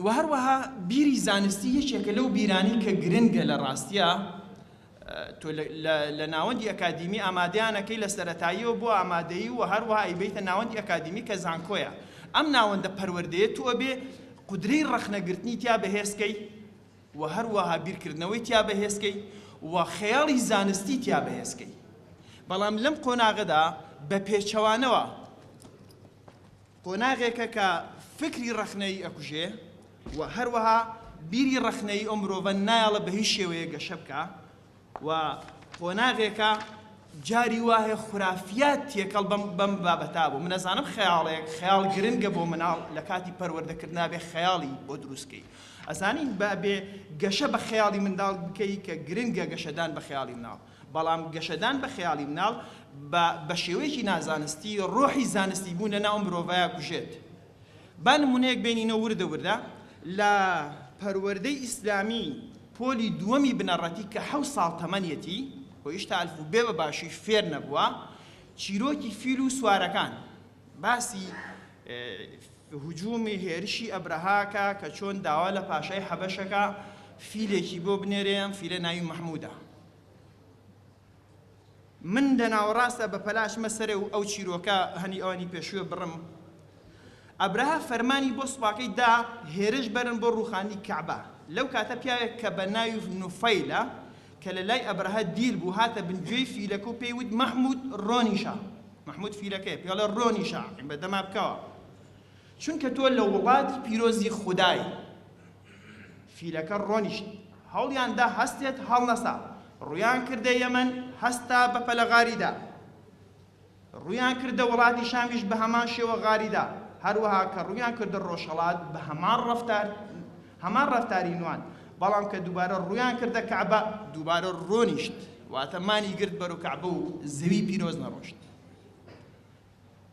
و هەروەها بیری زانستی یەکێکە لەو بیرانی کە گرنگە لە ڕاستیە تۆ لە ناوەندی ئەکادیمی ئامادەیانەکەی لە سەرەتاییەوە بۆ ئامادەیی و هەروەها ئەیبەیتە ناوەندی ئەکادیمی کە زانکۆیە ئەم ناوەندە پەروەردەیە تۆ ئەبێ قودرەی ڕەخنەگرتنی تیا بەهێزکەی و هەروەها بیرکردنەوەی تیا بەهێزکەی و خەیاڵی زانستی تیا بەهێزکەی بەڵام لەم قۆناغەدا بە پێچەوانەوە قۆناغێکە کە فکری ڕەخنەیی ئەکوژێ و هەروەها بیری ڕەخنەیی ئەو مرۆڤە نایەڵە بە هیچ شێوەیەک گەشە بکا و قۆناغێکە جاری وایە خورافیات تێکەڵ بەم بەم بابەتا بوو من ئەزانم خەیاڵێک خەیاڵ گرنگە بۆ مناڵ لە کاتی پەروەردەکردنا بێ خەیاڵی بۆ دروستکەی ئەزانین بە بێ گەشە بە خەیاڵی منداڵ بکەی کە گرنگە گەشەدان بە خەیاڵی مناڵ بەڵام گەشەدان بە خەیاڵی مناڵ با بە شێوەیەکی نازانستی ڕۆحی زانستی بوون لە ناو ئەم مرۆڤایە کوژێت. با نموونەیەک بێنینە وردە وردە لە پەروەردەی ئیسلامی پۆلی دووەمی بنەڕەتی کە حەوت ساڵ تەمەنیەتی و هیشتا ئەلف و بێ بە باشی فێر نەبووە چیرۆکی فیل و سوارەکان باسی هجوومی هێرشی ئەبرەهاکە کە چۆن داوا لە پاشای حەبەشەکە فیلێکی بۆ بنێرێ ئەم فیلە ناوی مەحموودە. من لە ناوەڕاستدا بە پەلاشمە سەرێ و ئەو چیرۆکە هەنی ئەوانی پێشووێ بڕم. ئەبرەهە فەرمانی بۆ سوپاکەی دا هێرش بەرن بۆ ڕووخانی کەعبە. لەو کاتە پیاوێک کە بە ناوی نوفەیلە کە لە لای ئەبرەهە دیل بوو هاتە بن گوێی فیلەکە و پێی وت مەحموود ڕۆنیشە. مەحموود فیلەکەیە پێڵێ ڕۆنیشە عیبەدەما بکەوە. چونکە تۆ لە وڵاتی پیرۆزی خودای. فیلەکە ڕۆنیشت، هەوڵیان دا هەستێت، هەڵنەسا. ڕوویان کردە یەمەن، هەستا، بەپەلە غاری دا. ڕوویان کردە وڵاتی شامیش بە هەمان شێوە غاری دا. هەروەها کە ڕوویان کردە ڕۆژهەڵات بە هەمان ڕەفتار، هەمان ڕەفتاری نواند. بەڵام کە دووبارە ڕوویان کردە کەعبە، دووبارە ڕۆنیشت، واتە مانی گرت بەرەو کەعبە و زەوی پیرۆز نەڕۆشت.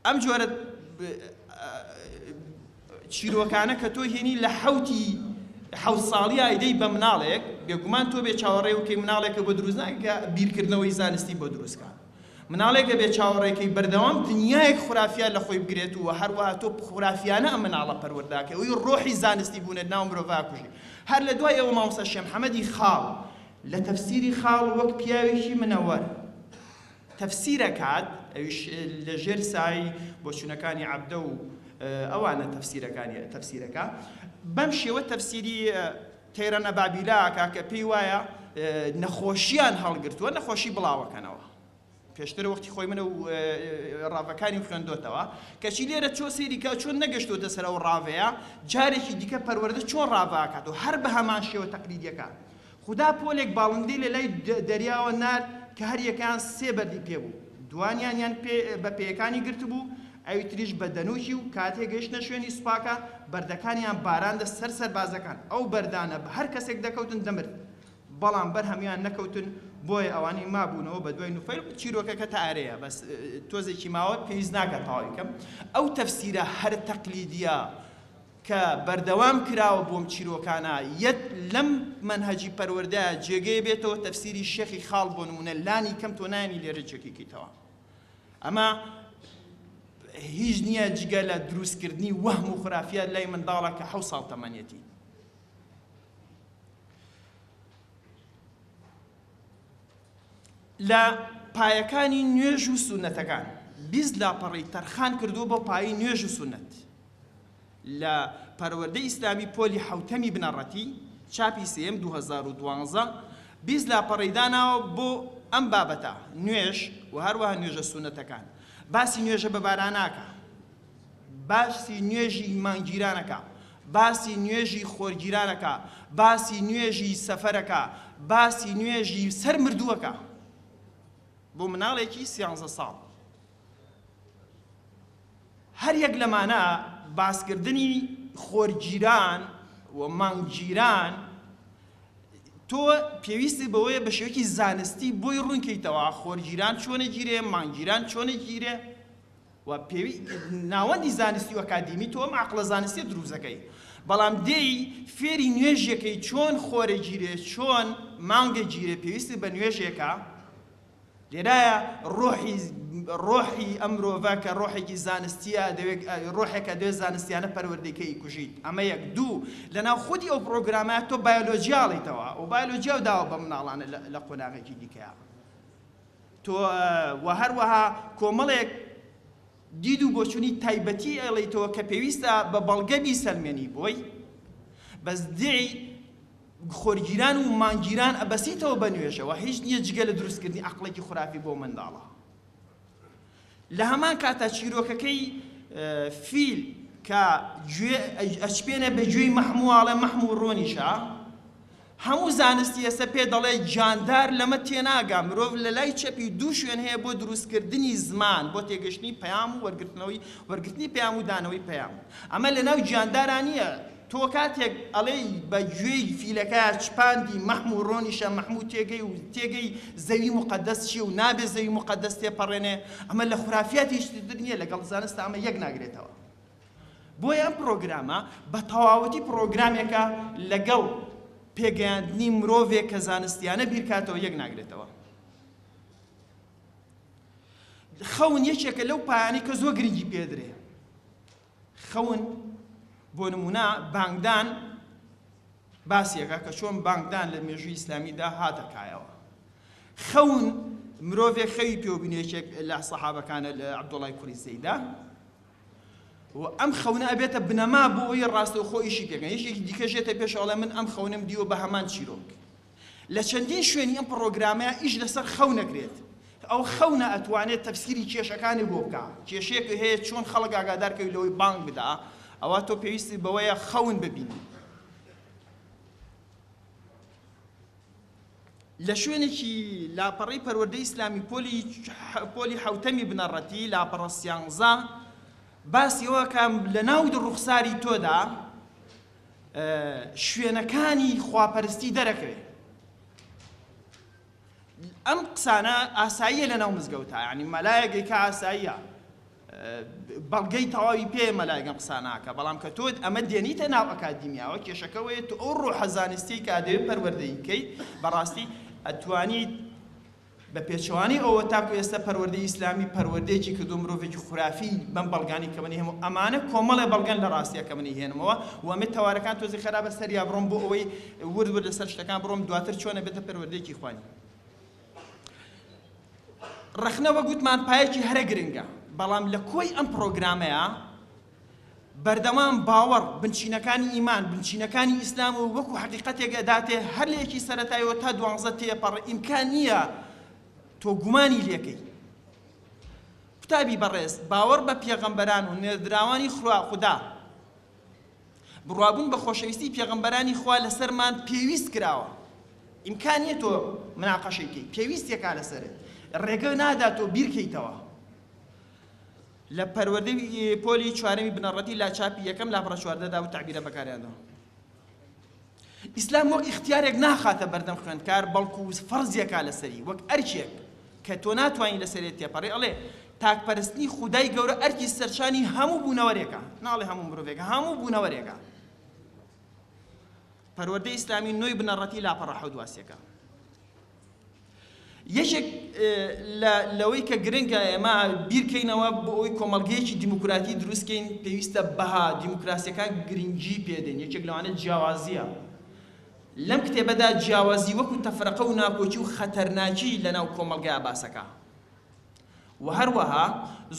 ئەم جۆرە چیرۆکانە کە تۆ هێنی لە حەوتی حەوت ساڵی ئایدەی بە مناڵێک بێگومان تۆ بێ چاوەڕێ و کەی مناڵێکە بۆ دروست ناکە بیرکردنەوەی زانستی بۆ دروستکە مناڵێکە بێ چاوەڕێکەی بەردەوام دنیایەک خورافیان لە خۆی بگرێت و هەروەها تۆ خورافیانە ئەم مناڵە پەروەرداکە ئەوی ڕۆحی زانستی بوونێت ناو مرۆڤا کوژی هەر لە دوای ئەوە مامۆستا شێم حەمەدی خاڵ لە تەفسیری خاڵ وەک پیاوێکی منەوەر تەفسیرەکات ئەویش لەژێر سای بۆچونەکانی عەبدە و ئەوانە تەفسیرەکانی تەفسیرەکا بەم شێوە تەفسیری تەیرە نەبابیلە ئەکا کە پێی وایە نەخۆشیان هەڵگرتووە نەخۆشی بڵاوەکەنەوە پێشتر وەختی خۆی منە و ڕاڤەکانی خوێندۆتەوە کەچی لێرە چۆ سێریکە چۆن نەگەشتوتە سەر ئەو ڕاڤەیە جارێکی دیکە پەروەردە چۆن ڕاڤاکات و هەر بە هەمان شێوە تەقلیدیەکە خودا پۆلێک باڵندەی لە لای دەریاوە نارد کە هەر یەکەیان سێ بەردی پێ بوو، دوانیانیان بە پێیەکانی گرتبوو، ئەوی تریش بە دەنووکی و کاتێ گەیشتنە شوێنی سوپاکە، بەردەکانیان باراندە سەر سەربازەکان، ئەو بەردانە بە هەر کەسێک دەکەوتن دەمرد، بەڵام بەر هەموویان نەکەوتن، بۆیە ئەوانەی مابوونەوە بە دوای نوفەیل، چیرۆکەکە تا ئەرەیە بەس تۆزێکی ماوە پێویست ناکا تەواوی کەم، ئەو تەفسیرە هەرە تەقلیدییە کە بەردەوام کراوە بۆم چیرۆکانە یەت لەم مەنهەجی پەروەردەیە جێگەیە بێتەوە تەفسیری شێخی خاڵ بۆ نموونە لانی کەم تۆ نایەنی لێرە جێکی کەیتەوە ئەمە هیچ نییە جگە لە دروستکردنی وەهم و خرافیات لای منداڵە کە حەو ساڵ تەمەنێتی لە پایەکانی نوێژ و سونەتەکان بیست لاپەڕەی تەرخان کردووە بۆ پایەی نوێژ و سونەت لە پەروەردەی ئیسلامی پۆلی حەوتەمی بنەڕەتی چاپی سێیەم دوو هەزار و دوازدە بیست لاپەڕەی داناوە بۆ ئەم بابەتە نوێژ و هەروەها نوێژە سونەتەکان باسی نوێژە بەباراناکا باسی نوێژی مانگگیران ئەکا، باسی نوێژی خۆرگیران ئەکا، باسی نوێژی سەفەر ئەکا، باسی نوێژی سەر مردوو ئەکا. بۆ مناڵێکی سیانزە ساڵ. هەر یەک لەمانە باسکردنی خۆرگیران و مانگگیران تۆ پێویستی بەوەیە بە شێوەیەکی زانستی بۆی ڕوونکەیتەوە خۆرگیران چۆنە گیرێ مانگگیران چۆنە گیرێ و پێوی ناوەندی زانستی و ئەکادیمی تۆ ئەم عەقڵە زانستیە دروست دەکەی بەڵام دێی فێری نوێژ یەکەی چۆن خۆرە گیرێ چۆن مانگە گیرێ پێویستت بە نوێژێکە لێرایە ڕۆحی ڕۆحی ئەم مرۆڤە کە ڕۆحێکی زانستیە دەوێت ڕۆحێکە دەوێت زانستیانە پەروەردەکەی کوژیت ئەمە یەک دوو لەناو خودی ئەو پرۆگرامە تۆ بایۆلۆژیاڵیتەوە و بایۆلۆژیا و داوە بە مناڵانە لە قۆناغێکی دیکەیە تۆ و هەروەها کۆمەڵێک دید و بۆچونی تایبەتی ئەڵیتەوە کە پێویستە بە بەڵگە بیسەلمێنی بۆی بەس دعی خۆرگیران و مانگیران ئەبەسیتەوە بە نوێژەوە هیچ نییە جگە لە دروستکردنی عقڵێکی خرافی بۆ منداڵە لە هەمان کاتدا چیرۆکەکەی، فیل، کە گوێ ئەچپێنێ بە گوێی مەحم و ئاڵێ مەحم و ڕۆنیشە، هەموو زانستی ئێستا پێ دەڵێ جاندار لەمە تێناگا، مرۆڤ لە لای چەپی دوو شوێن هەیە بۆ دروستکردنی زمان، بۆ تێگەشتنی پەیام و وەرگرتنەوەی وەرگرتنی پەیام و دانەوەی پەیام، ئەمە لەناو جاندارا نییە، تۆ کاتێک ئەڵێی بە گوێی فیلەکە چپاندی مەحم و ڕۆنیشە مەحم و تێگەی و تێگەی زەوی موقەدەس چیە و نابێ زەوی موقەدەس تێپەڕێنێ ئەمە لە خورافیات هیچتر در نیە لەگەڵ زانستا ئەمە یەک ناگرێتەوە بۆیە ئەم پڕۆگرامە بە تەواوەتی پڕۆگرامێکە لەگەڵ پێگەیاندنی مرۆڤێک کە زانستیانە بیرکاتەوە یەک ناگرێتەوە خەون یەکێکە لەو پایانی کە زۆر گرنگی پێدرێ خەون، بۆ نموونە بانگدان باسێکە کە چۆن بانگدان لە مێژووی ئیسلامیدا هاتە کایەوە. خەون، مرۆڤێک خەوی پێوە بینێ یەکێک لە سەحابەکانە لە عەبدوڵای کوڕی زەیدە و ئەم خەونە ئەبێتە بنەما بۆ ئەوی ڕاستەوخۆ ئیشی پێکەن یەکێکی دیکەش یێتە پێش ئەڵێ من ئەم خەونەم دیوە بە هەمان چیرۆک لە چەندین شوێنی ئەم پڕۆگرامە ئیش لەسەر خەونە کرێت، ئەو خەونە ئەتوانێت تەفسیری کێشەکانی بۆ بکا، کێشەیەک هەیە چۆن خەڵک ئاگادار کەی لەوەی بانگ بدا، ئەوا تۆ پێویستت بەوەیە خەون ببینی. لە شوێنێکی لاپەڕەی پەروەردەی ئیسلامی پۆلی پۆلی حەوتەمی بنەڕەتی لاپەڕە سیانزە باسی ئەوە کە لە ناو ڕوخساری تۆدا شوێنەکانی خواپەرستی دەرەکەوێ ئەم قسانە ئاساییە لە ناو مزگەوتا ینی مەلایەگەی کە ئاساییە بەڵگەی تەواوی پێ مەلایگەم قساناکە بەڵام کە تۆت ئەمە دێنیتە ناو ئەکادیمیاوە کێشەکەوەیە تو ئەو ڕۆحە زانستی کە دەوێت پەروەردەیکەی بەڕاستی ئەتوانیت بە پێچەوانەی ئەوە تاکو ئێستا پەروەردەی ئیسلامی پەروەردەیەکی کردووە مرۆڤێکی خورافی بەم بەڵگانەی کە منی هەموو ئەمانە کۆمەڵێ بەڵگەن لە ڕاستیە کە منی هێنمەوە و ئەمێ تەوارەکان تۆزێ خەرابە سەریا بڕۆم بۆ ئەوەی ورد ورد لەسەر شتەکان بڕۆم دواتر چۆنە بێتە پەروەردەیەکی خوانی ڕەخنە وەگوتمان پایەکی هەرە گرنگە بەڵام لە کۆی ئەم پرۆگرامەیە بەردەوام باوەڕ، بنچینەکانی ئیمان، بنچینەکانی ئیسلام و وەکو حەقیقەتێک ئەداتێ هەر لە یەکی سەرەتایەوە تا دوانزە تێپەڕ ئیمکان نییە تۆ گومانی لێکەی. قوتابی بەڕێز باوەڕ بە پێغەمبەران و نێردراوانی خوا خودا بڕوابوون بە خۆشەویستی پێغەمبەرانی خوا لەسەرمان پێویست کراوە ئیمکان نییە تۆ مناقەشەی کەی پێویستێکا لەسەرت ڕێگە نادا تۆ بیرکەیتەوە لە پەروەردەی پۆلی چوارەمی بنەڕەتی لاچاپی یەکەم لاپەڕە چواردە دا ئەو تەعبیرە بەکارهێناوە. ئیسلام وەک ئیختیارێک ناخاتە بەردەم خوێندکار بەڵکو فەرزی ئەکا لەسەری وەک ئەرکێک کە تۆ ناتوانی لەسەرێ تێپەڕی ئەڵێ تاک پەرستنی خودای گەورە ئەرکی سەرشانی هەموو بوونەوەرێکە ناڵێ هەموو مرۆڤێکە هەموو بوونەوەرێکە پەروەردەی ئیسلامی نۆی بنەڕەتی لاپەڕە حەوت واسیەکە. یەکێک لە لەوەی کە گرنگە ئێمە بیرکەینەوە بۆ ئەوەی کۆمەڵگەیەکی دیموکراتی دروستکەین پێویستە بەها دیموکراسیەکان گرنگی پێدەین یەکێک لەوانە جیاوازیە لەم کتێبەدا جیاوازی وەکو تەفرەقە و ناکۆکی و خەتەرناکی لەناو کۆمەڵگەیا باسەکە و هەروەها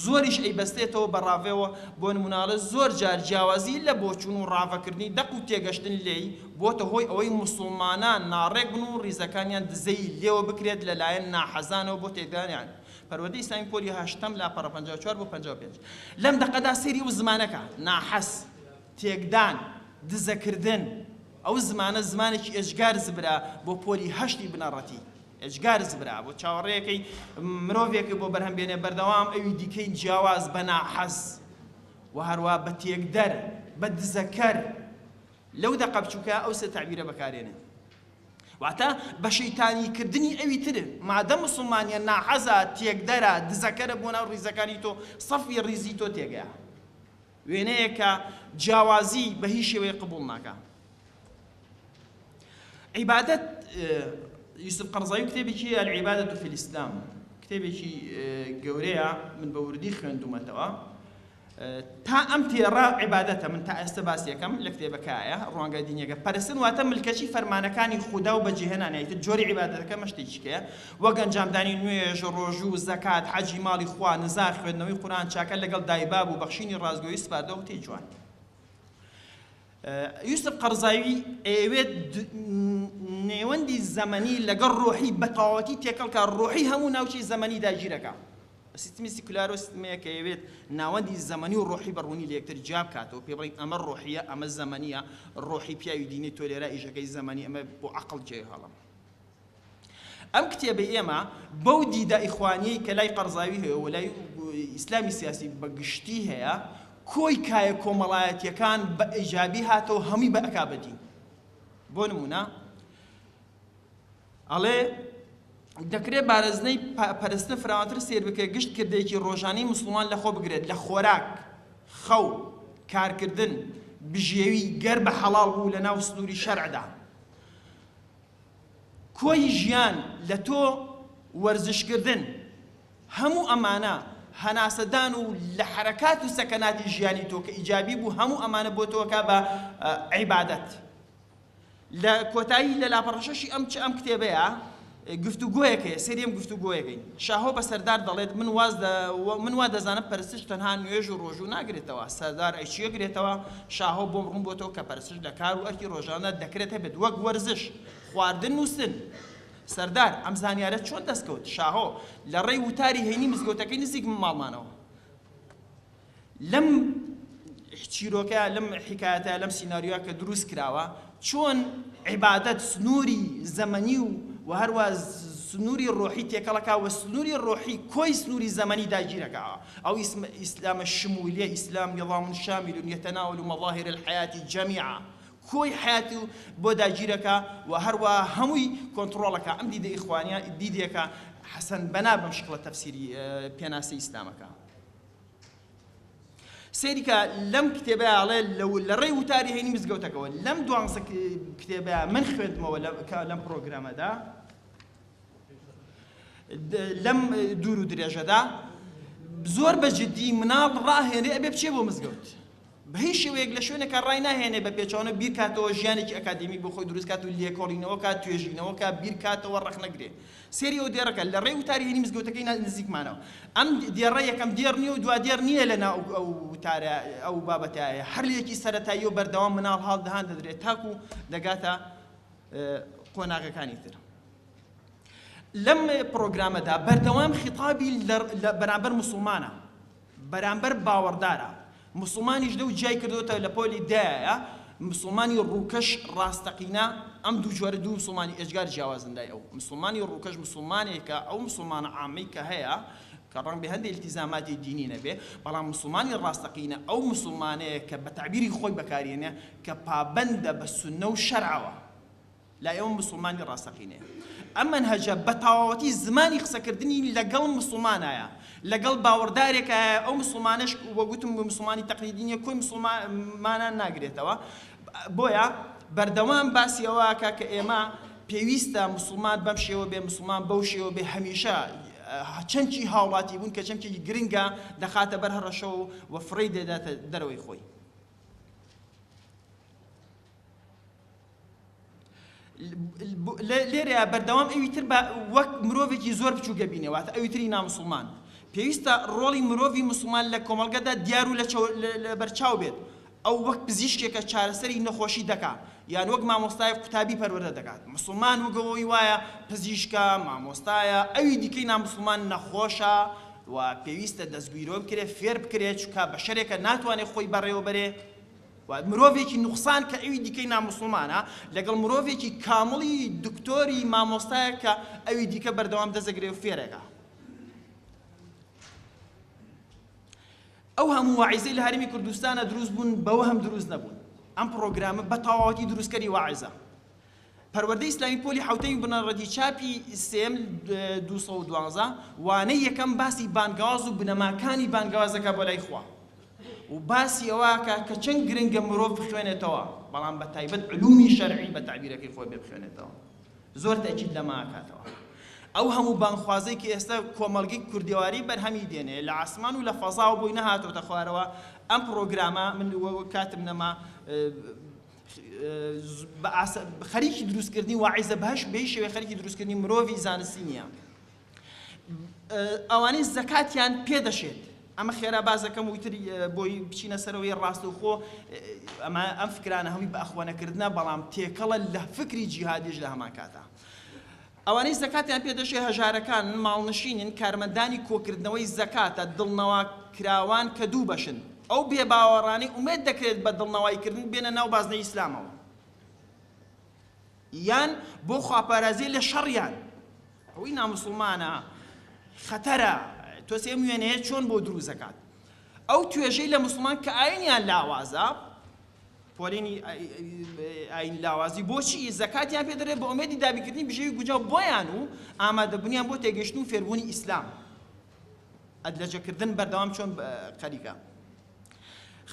زۆریش ئەیبەستێتەوە بە ڕاڤەوە، بۆ نموونەاڵێ زۆر جار جیاوازی لە بۆچوون و ڕاڤەکردنی دەق و تێگەشتن لێی، بۆتە هۆی ئەوەی موسوڵمانان ناڕێک بن و ڕیزەکانیان دزەی لێوە بکرێت لە لایەن ناحەزانەوە بۆ تێکدانیان پەروەردەی ئیسلامی پۆلی هەشتەم لاپەڕە پەنجا و چوار بۆ پەنجا و پێنج لەم دەقەدا سەیری ئەو زمانەکە، ناحەز، تێکدان، دزەکردن، ئەو زمانە زمانێکی ئێجگار زبرە بۆ پۆلی هەشتی بنەڕەتی. ئێجگار زبرا بۆ چاوەڕێیەکەی مرۆڤێک بۆ بەرهەم بێنێ بەردەوام ئەوی دیکەی جیاواز بە ناحەز و هەروا بە تێکدەر بە دزەکەر لەو دەقە بچووکە ئەو سێ تەعبیرە بەکارێنێ واتە بە شەیتانی کردنی ئەوی تر مادە موسڵمانیە ناحەزە تێکدەرە دزەکەرە بۆ ناو ڕیزەکانی تۆ سەفی ڕیزی تۆ تێگەیە وێنەیەک کە جیاوازی بە هیچ شێوەیەک قبوڵ ناکا. عیبادەت یوسف قەرزاوی کتێبێکی العبادة فی الاسلام کتێبێکی گەورەیە من بە وردی خوێندومەتەوە تا ئەم تێڕە عیبادەتە من تا ئێستا باسی یەکەم لە کتێبەکایە ڕوانگە دینیەکە پەرستن واتە ملکەچی فەرمانەکانی خودا و بەجێهێنانیتە جۆری عیبادەتەکە مەشتێکیکەیە وەک ئەنجامدانی نوێژ، ڕۆژوو، زەکات، حەجی ماڵی خوا، نزار، خوێندنەوەی قورئان چاکە لەگەڵ دایباب و بەخشینی ڕاستگۆیی سپاردە و قسەی جوان. یوسف قەڕزاوی ئەیەوێت نێوەندی زەمەنی لەگەڵ ڕۆحی بەتەواوەتی تێکەڵکە ڕۆحی هەموو ناوچەی زەمەنی داگیرەکە سیستمی سیکولار و سیستمەیە کە یەوێت ناوەندی زەمەنی و ڕۆحی بەڕوونی لە یەکتر جیا بکاتەوە پێ بڵین ئەمە ڕۆحیە ئەمە زەمەنیە ڕۆحی پیاوی دینی تۆ لێرا ئیشەکەی زەمەنی ئەمە بۆ عقل جێ هەڵم ئەم کتێبەی ئێمە بەو دیدە ئیخوانیەی کە لای قەرزاوی هەیەو و لای ئیسلامی سیاسی بە گشتی هەیە، کۆی کایە کۆمەڵایەتیەکان بە ئیجابی هاتەوەو هەمووی بە ئەکا بە دین. بۆ نمونە ئەڵێ، دەکرێ بارزنەی پەرستن فراوانتر سەیر بکرێت، گشت کردەیەکی ڕۆژانەی موسڵمان لەخۆ بگرێت، لە خۆراک، خەو، کارکردن، بژێوی، گەر بە حەڵاڵ بوو لەناو سنوری شەرعدا. کۆی ژیان لە تۆ وەرزش کردن هەموو ئەمانە هەناسە دان و لە حەرەکات و سەکەناتی ژیانی تۆ کە ئیجابی بوو هەموو ئەمانە بۆ تۆ کا بە عیبادەت لە کۆتایی لە لاپەڕە شەشی ئەم چ ئەم کتێبەیە گفتوگۆیەک هەیە سەری ئەم گفتوگۆیەکەین شاهۆ بە سەردار دەڵێت من واز من وا دەزانم پەرستش تەنها نوێژ و ڕۆژوو ناگرێتەوە سەردار ئەی چییە گرێتەوە شاهۆ بۆم ڕوون بۆتەوە کە پەرستش لە کار و ئەرکی ڕۆژانەدا دەکرێت هەبێت، وەک وەرزش، خواردن، نووستن. سەردار، ئەم زانیارەت چۆن دەست کەوت؟ شاهۆ، لە ڕێی وتاری هەینی مزگەوتەکەی نزیک ماڵمانەوە. لەم چیرۆکە، لەم حیکایەتە، لەم سیناریۆیە کە دروست کراوە، چۆن عیبادەت سنووری زەمەنی و و هەروا سنووری ڕۆحی تێکەڵ ئەکا و سنووری ڕۆحی کۆی سنووری زەمەنی داگیر ئەکا. ئەو ئیسم ئیسلامە شموولیە، ئیسلام نظام شامل یتناول مظاهر الحیاة جمیعا، کۆی حیات و بۆ داگیر ئەکا و هەروا هەمووی کۆنتڕۆڵ ئەکا. ئەم دیدە ئیخوانیە دیدێکە حەسەن بەنا بەم شکڵە تەفسیری پێناسەی ئیسلام ئەکا. سەیرکە لەم کتێبەیا ئەڵێ لە ڕێی وتاری هەینی مزگەوتەکەوە لەم دوانزە کتێبەیا من خوێندمەوە لەم پرۆگرامەدا لەم دوور و درێژەدا زۆر بە جددی مناڵ ڕاهێنێ ئەبێ بچێ بۆ مزگەوت بە هیچ شێوەیەک لە شوێنێکا ڕای ناهێنێ بە پێچەوانە بیرکاتەوە ژیانێکی ئەکادیمیک بۆ خۆی دروست کات و لێکۆڵینەوە کات توێژینەوە کا بیر کاتەوە ڕەخنە گرێ سێری ئەو دێڕەکە لە ڕێی وتاری هینی مزگەوتەکەی نزیکمانەوە ئەم دێڕە یەکەم دێڕ نیە و دوا دێڕ نیە لە ناو ئەو وتارە ئەو بابەتایە هەر لێکی سەرەتایی و بەردەوام مناڵ هاڵ دەهان دەدرێ تاکو دەگاتە قۆناغەکانی تر لەم پرۆگرامەدا بەردەوام خیتابی لە بەرامبەر مسلمانە بەرامبەر باوەڕدارە موسڵمانیش لەو جیای کردۆتە لە پۆلی دایە موسڵمانی ڕووکەش ڕاستەقینە ئەم دوو جۆرە دوو موسڵمانی ئێجگار جیاوازن لای ئەو موسڵمانی ڕووکەش موسڵمانێکە ئەو موسڵمانە عامەی کە هەیە کە ڕەنگبێ هەندێ ئیلتیزاماتی دینی نەبێ بەڵام موسڵمانی ڕاستەقینە ئەو موسڵمانەیە کە بە تەعبیری خۆی بەکاریێنێ کە پابەندە بە سوننە و شەرعەوە لای ئێمە موسڵمانی ڕاستەقینەیە ئەم مەنهەجە بە تەواوەتی زمانی قسەکردنی لەگەڵ موسڵمانایە، لەگەڵ باوەڕدارێکایە، ئەو موسڵمانەش وەک وتم موسڵمانی تەقلیدی نییە کۆی موسڵمانان ناگرێتەوە، بۆیە بەردەوام باسی ئەوەکا کە ئێمە پێویستە موسڵمان بەم شێوە بێ، موسڵمان بەو شێوە بێ، هەمیشە چەمکی هاوڵاتیبوون کە چەمکێکی گرنگە دەخاتە بەر هەڕەشە و فڕێی دەداتە دەرەوەی خۆی. لێرەیە بەردەوام ئەوی تر بە وەک مرۆڤێکی زۆر بچووک دەبینێ واتە ئەوی تری نامسڵمان پێویستە ڕۆڵی مرۆڤی مسلمان لە کۆمەڵگەدا دیار و لە بەرچاو بێت ئەو وەک پزیشکێکە چارەسەری نەخۆشی دەکا یان وەک مامۆستای قوتابی پەروەردە دەکات مسلمان وگەوەی وایە پزیشکە مامۆستایە ئەوی دیکەی نامسلمان نەخۆشە و پێویستە دەستگیرۆ بکرێت فێر بکرێت چکا بە شەرێکە ناتوانێت خۆی بەڕێوەبەرێ وە مرۆڤێکی نوقسان کە ئەوی دیکەی ناموسڵمانە لەگەڵ مرۆڤێکی کامڵی دکتۆری مامۆستایەک کە ئەوی دیکە بەردەوام دەزەگرێ و فێرێکە ئەو هەموو واعیزەی لە هەرمی کوردستانە دروست بوون بەوە هەم دروست نەبوون ئەم پرۆگرامە بە تەواوەتی دروستکەری واعیزە پەروەردەی ئیسلامی پۆلی حەوتەمی بنەڕەتی چاپی سێم دوو سەد و دوازدە وانەی یەکەم باسی بانگەواز و بنەماکانی بانگەواز دەکات بۆ لای خوا و باسی ئەوەکە کە چەند گرنگە مرۆڤ بخوێنێتەوە بەڵام بە تایبەت علومی شەرعی بە تەعبیرەکەی خۆی بێ بخوێنێتەوە زۆر تەئکید لەمە ئەکاتەوە ئەو هەموو بانگخوازەی کە ئێستا کۆمەڵگەی کوردێواری بەرهەمی دێنێ لە عاسمان و لە فەزاوە بۆی نەهاتۆتە خوارەوە ئەم پڕۆگرامە من کاتم نەما خەریکی دروستکردنی واعیزە بەهش بەی شێوەی خەریکی دروستکردنی مرۆڤی زانستی نییە ئەوانەی زەکاتیان پێدەشێت ئەمە خێرا بازەکەم وتر بۆی بچینە سەرەوەی ڕاستەوخۆ ئەمە ئەم فکرانە هەمی بەخۆنەکردە بەڵام تێکەڵە لە فکری جیهادیش لە هەمان کاتا ئەوانەی زەکاتیان پێ دەچێت هەژارەکانن، ماڵنشینن، کارمەندانی کۆکردنەوەی زەکاتە، دڵنەواکراوان کە دوو بەشن، ئەو بێباوەڕانەی ئومێد دەکرێت بە دڵنەوایکردن بێنە ناو بازنەی ئیسلامەوە یان بۆ خواپارازی لە شەڕیان، ئەوەی ناموسڵمانە خەتەرە، تۆزێ ئەم وێنەیە چۆن بۆ دروست دەکات ئەو توێژەی لە موسڵمان کە ئاینیان لاوازە، پۆلێنی ئاینی لاوازی بۆچی زەکاتیان پێ دەدرێت بە ئومێدی دابینکردنی بژێوی گونجاو بۆیان و ئامادەبوونیان بۆ تێگەیشتن و فێربوونی ئیسلام ئەدلەجەکردن بەردەوام چۆن خەریکە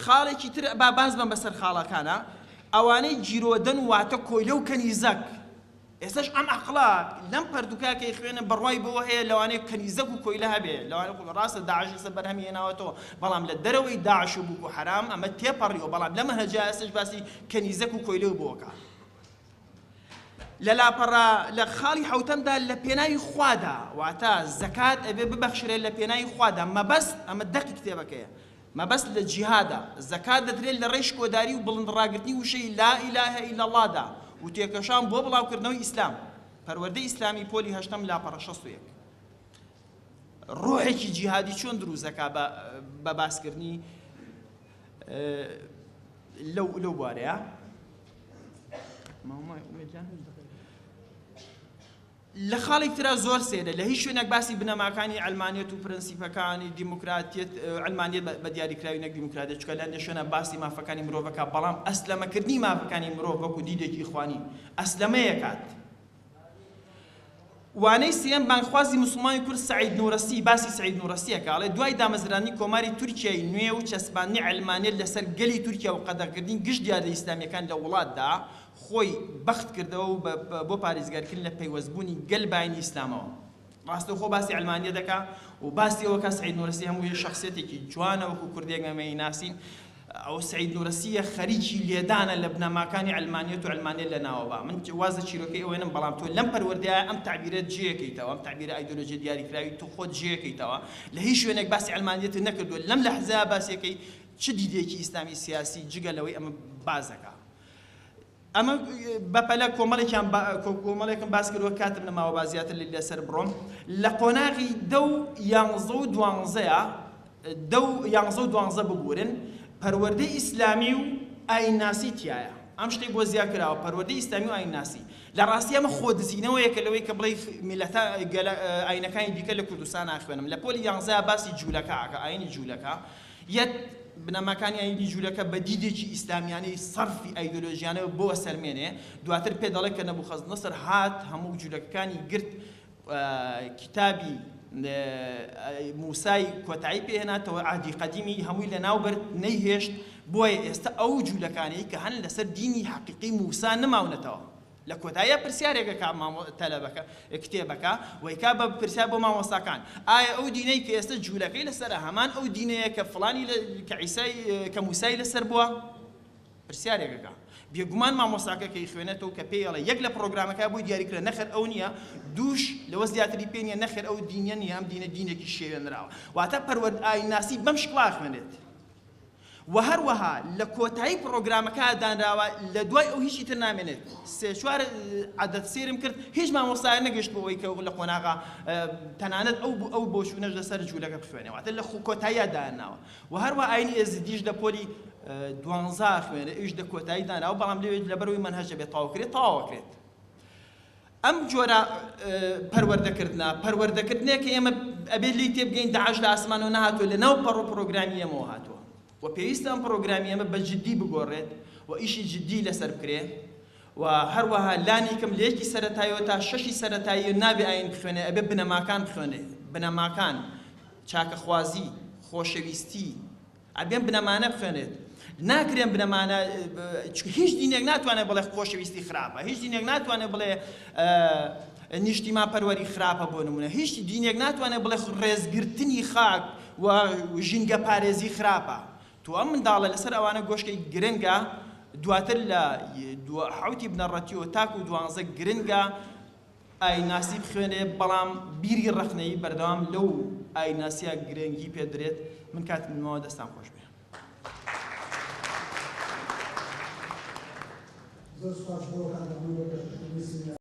خاڵێکی تر با باز بم بەسەر خاڵەکانە ئەوانەی جیرۆدەن واتە کۆیلە و کەنیزەک ئێستەش ئەم عەقڵە لەم پەرتوکە کە ئەیخوێنم بڕوای بەوە هەیە لەوانەیە کەنیزەک و کۆیلە هەبێ لەوانەیە خۆ ڕاستە داعش ئێستە بەرهەمی هێناوەتەوە بەڵام لە دەرەوەی داعش و بوکو حەرام ئەمە تێپەڕیوە بەڵام لەم هەجا ئێستەش باسی کەنیزەک و کۆیلە و بۆکە لە لاپەڕە لە خاڵی حەوتەمدا لە پێناوی خوادا واتە زەکات ئەبێ ببەخشرێت لە پێناوی خوادا مەبەست ئەمە دەقی کتێبەکەیە مەبەست لە جیهادە، زەکات دەدرێت لە ڕێی شکۆداری و بڵندڕاگرتنی وشەی لا الە الا اللە دا و تێکۆشان بۆ بڵاوکردنەوەی ئیسلام. پەروەردەی ئیسلامی پۆلی هەشتەم لاپەڕە شەست و یەک. ڕۆحێکی جیهادی چۆن دروست دەکا بە باسکردنی لەو لەو بوارەیە؟ لە خاڵێک ترا زۆر سەیرە لە هیچ شوێنێک باسی بنەماکانی عەلمانیەت و پرەنسیپەکانی دیموکراتیەت، عەلمانیەت بە دیاریکراوی نەک دیموکراتیەت، چونکە لە هەندێک شوێنا باسی مافەکانی مرۆڤ ئەکا بەڵام ئەسلەمەکردنی مافەکانی مرۆڤ وەکو دیدێکی ئیخوانی ئەسلەمەی ئەکات. وانەی سێیەم بانگخوازی موسڵمانی کورد سەعید نورەسی باسی سەعید نورەسی ئەکا ئەڵێ دوای دامەزراندنی کۆماری تورکیای نوێ و چەسپاندنی عەلمانیەت لەسەر گەلی تورکیا و قەدەغەکردنی گشت دیاردە ئیسلامیەکان لە وڵاتدا خۆی بەخت کردەوە و بۆ پاریزگارکرین لە پەیوەست بوونی گەل باینی ئیسلامەوە ڕاستەوخۆ باسی عەلمانیە دەکا و باسی ئەوە کا سەعید نورسی هەموو یە شەخسیەتێکی جوانە وەکو کوردێک ئەمە ی ناسین ئەو سەعید نورسی یە خەریکی لێدانە لە بنەماکانی عەلمانیەت و عەلمانیەت لە ناوە با من واز لە چیرۆکەی ئەوێنم بەڵام تۆ لەم پەروەردەیە ئەم تەعبیرە جێ کەیتەوە ئەم تەعبیرە ئایدۆلۆژیە دیاری کراوی تۆ خۆت جێ کەیتەوە لە هیچ شوێنێک باسی عەلمانیەتت نەکردوە لەم لەحزەیە باسی یەکەی چ دیدێکی ئیسلامی سیاسی جگە لەوەی ئەمە باس دەکا ئەمە بەپەلە کۆمەڵێکیان کۆمەڵێکم باس کردوە کاتم نەماوە با زیاتر لە لەسەر بڕۆم لە قۆناغی دە و یانزە و دوانزەیە دە و یانزە و دوانزە ببورن پەروەردەی ئیسلامی و ئاینناسی تایە ئەم شتەی بۆ زیاد کراوە پەروەردەی ئیسلامی و ئاینناسی لە ڕاستی ئەمە خۆ دزینەوەیە کە لەوەی کە بڵێ میلەتا ئاینەکانی دیکە لە کوردستان ناخوێنم لە پۆلی یانزە باسی جوولەکە ئاکە ئاینی جوولەکە یەت، بنەماکانی ئایینی ژوورەکە بە دیدێکی ئیسلامیانەی سەرفی ئایدۆلۆژیانەوە بۆوە سەرمێنێ، دواتر پێ دەڵێ کە نەبوخەزنەسر هات هەموو ژوورەکەکانی گرت و کیتابی موسای کۆتایی پێ هێناتەوە، عەهدی قەدیمی هەمووی لە ناو برد، نەیهێشت، بۆیە ئێستە ئەو جوولەکانەی کە هەن لەسەر دینی حەقیقی موسا نماونەتەوە. لە کۆتاییا پرسیارێک ئەکا مامۆ تەلەبەکە کتێبەکە وەیکا بە پرسیار بۆ مامۆستاکان ئایا ئەو دینەی کە ئێستە جولەکەی لەسەرە هەمان ئەو دینەیە کە فڵانی لە کە عیسای کە موسای لەسەر بووە پرسیارێک ئەکا بێگومان مامۆستاکە کە ئیخوێنێتەوە کە پێی ئەڵێ یەک لە پڕۆگرامەکە بۆی دیاری کرا نەخێر ئەو نییە دووش لەوە زیاتری پێ نییە نەخێر ئەو دینە نییە ئەم دینە دینێکی شێوێنراوە واتە پەروەرد ئاینناسی بەم شکڵا ئەخوێنێت وە هەروەها لە کۆتایی پڕۆگرامەکە دانراوە لە دوای ئەو هیچی تر نامێنێت سێ چوار عەدەد سێرم کرد هیچ مامۆستایە نەگەشت بۆ ئەوەی کە لە قۆناغە تەنانەت ئەو بوو ئەو بۆچوونەش لەسەر جوولەکە بخوێنێ واتە لە کۆتاییا دانناوە وە هەروەها ئاینی ئێزیدیش لە پۆلی دوانزا خوێنرێ ئەویش لە کۆتایی دانراوە بەڵام لەوێ لەبەرەوەی مەنهەج دەبێت تەواو کرێت تەواو ئەکرێت ئەم جۆرە پەروەردەکردنە، پەروەردەکردنێک کە ئێمە ئەبێت لێی تێبگەین داعش لە ئاسمانەوە نەهاتووە لەناو پەڕ و پڕۆگرامی ئێمەوە هاتووە و پێویستە ئەم پڕۆگرامی ئێمە بە جدی بگۆڕێت و ئیشی جدی لەسەر بکرێ و هەروەها لانی کەم لە یەکی سەرەتایەوە تا شەشی سەرەتایی نابێ ئاین بخوێنێ ئەبێ بنەماکان بخوێنێ بنەماکان چاکەخوازی خۆشەویستی ئەبێن بنەمانە بخوێنێت ناکرێن بنەمانە چ هیچ دینێک ناتوانێت بڵێ خۆشەویستی خراپە هیچ دینێک ناتوانێت بڵێ نیشتیمان پەروەری خراپە بۆ نمونە هیچ دینێک ناتوانێت بڵێ ڕێزگرتنی خاک و ژینگە پارێزی خراپە تو ئەم منداڵە لەسەر ئەوانە گۆشکی گرنگە دواتر لە حوتی بنەڕەتیەوە تاکو دوانزە گرنگە ئاینناسی بخوێنێ بەڵام بیری ڕەخنەیی بەردەوام لەو ئاینناسیە گرنگی پێ بدرێت من کاتم نماوە دەستان خۆش بێ. زۆر سوپاس بۆ ئەو کاتە بوو بە پێشکەشکردنی سیمینارەکە.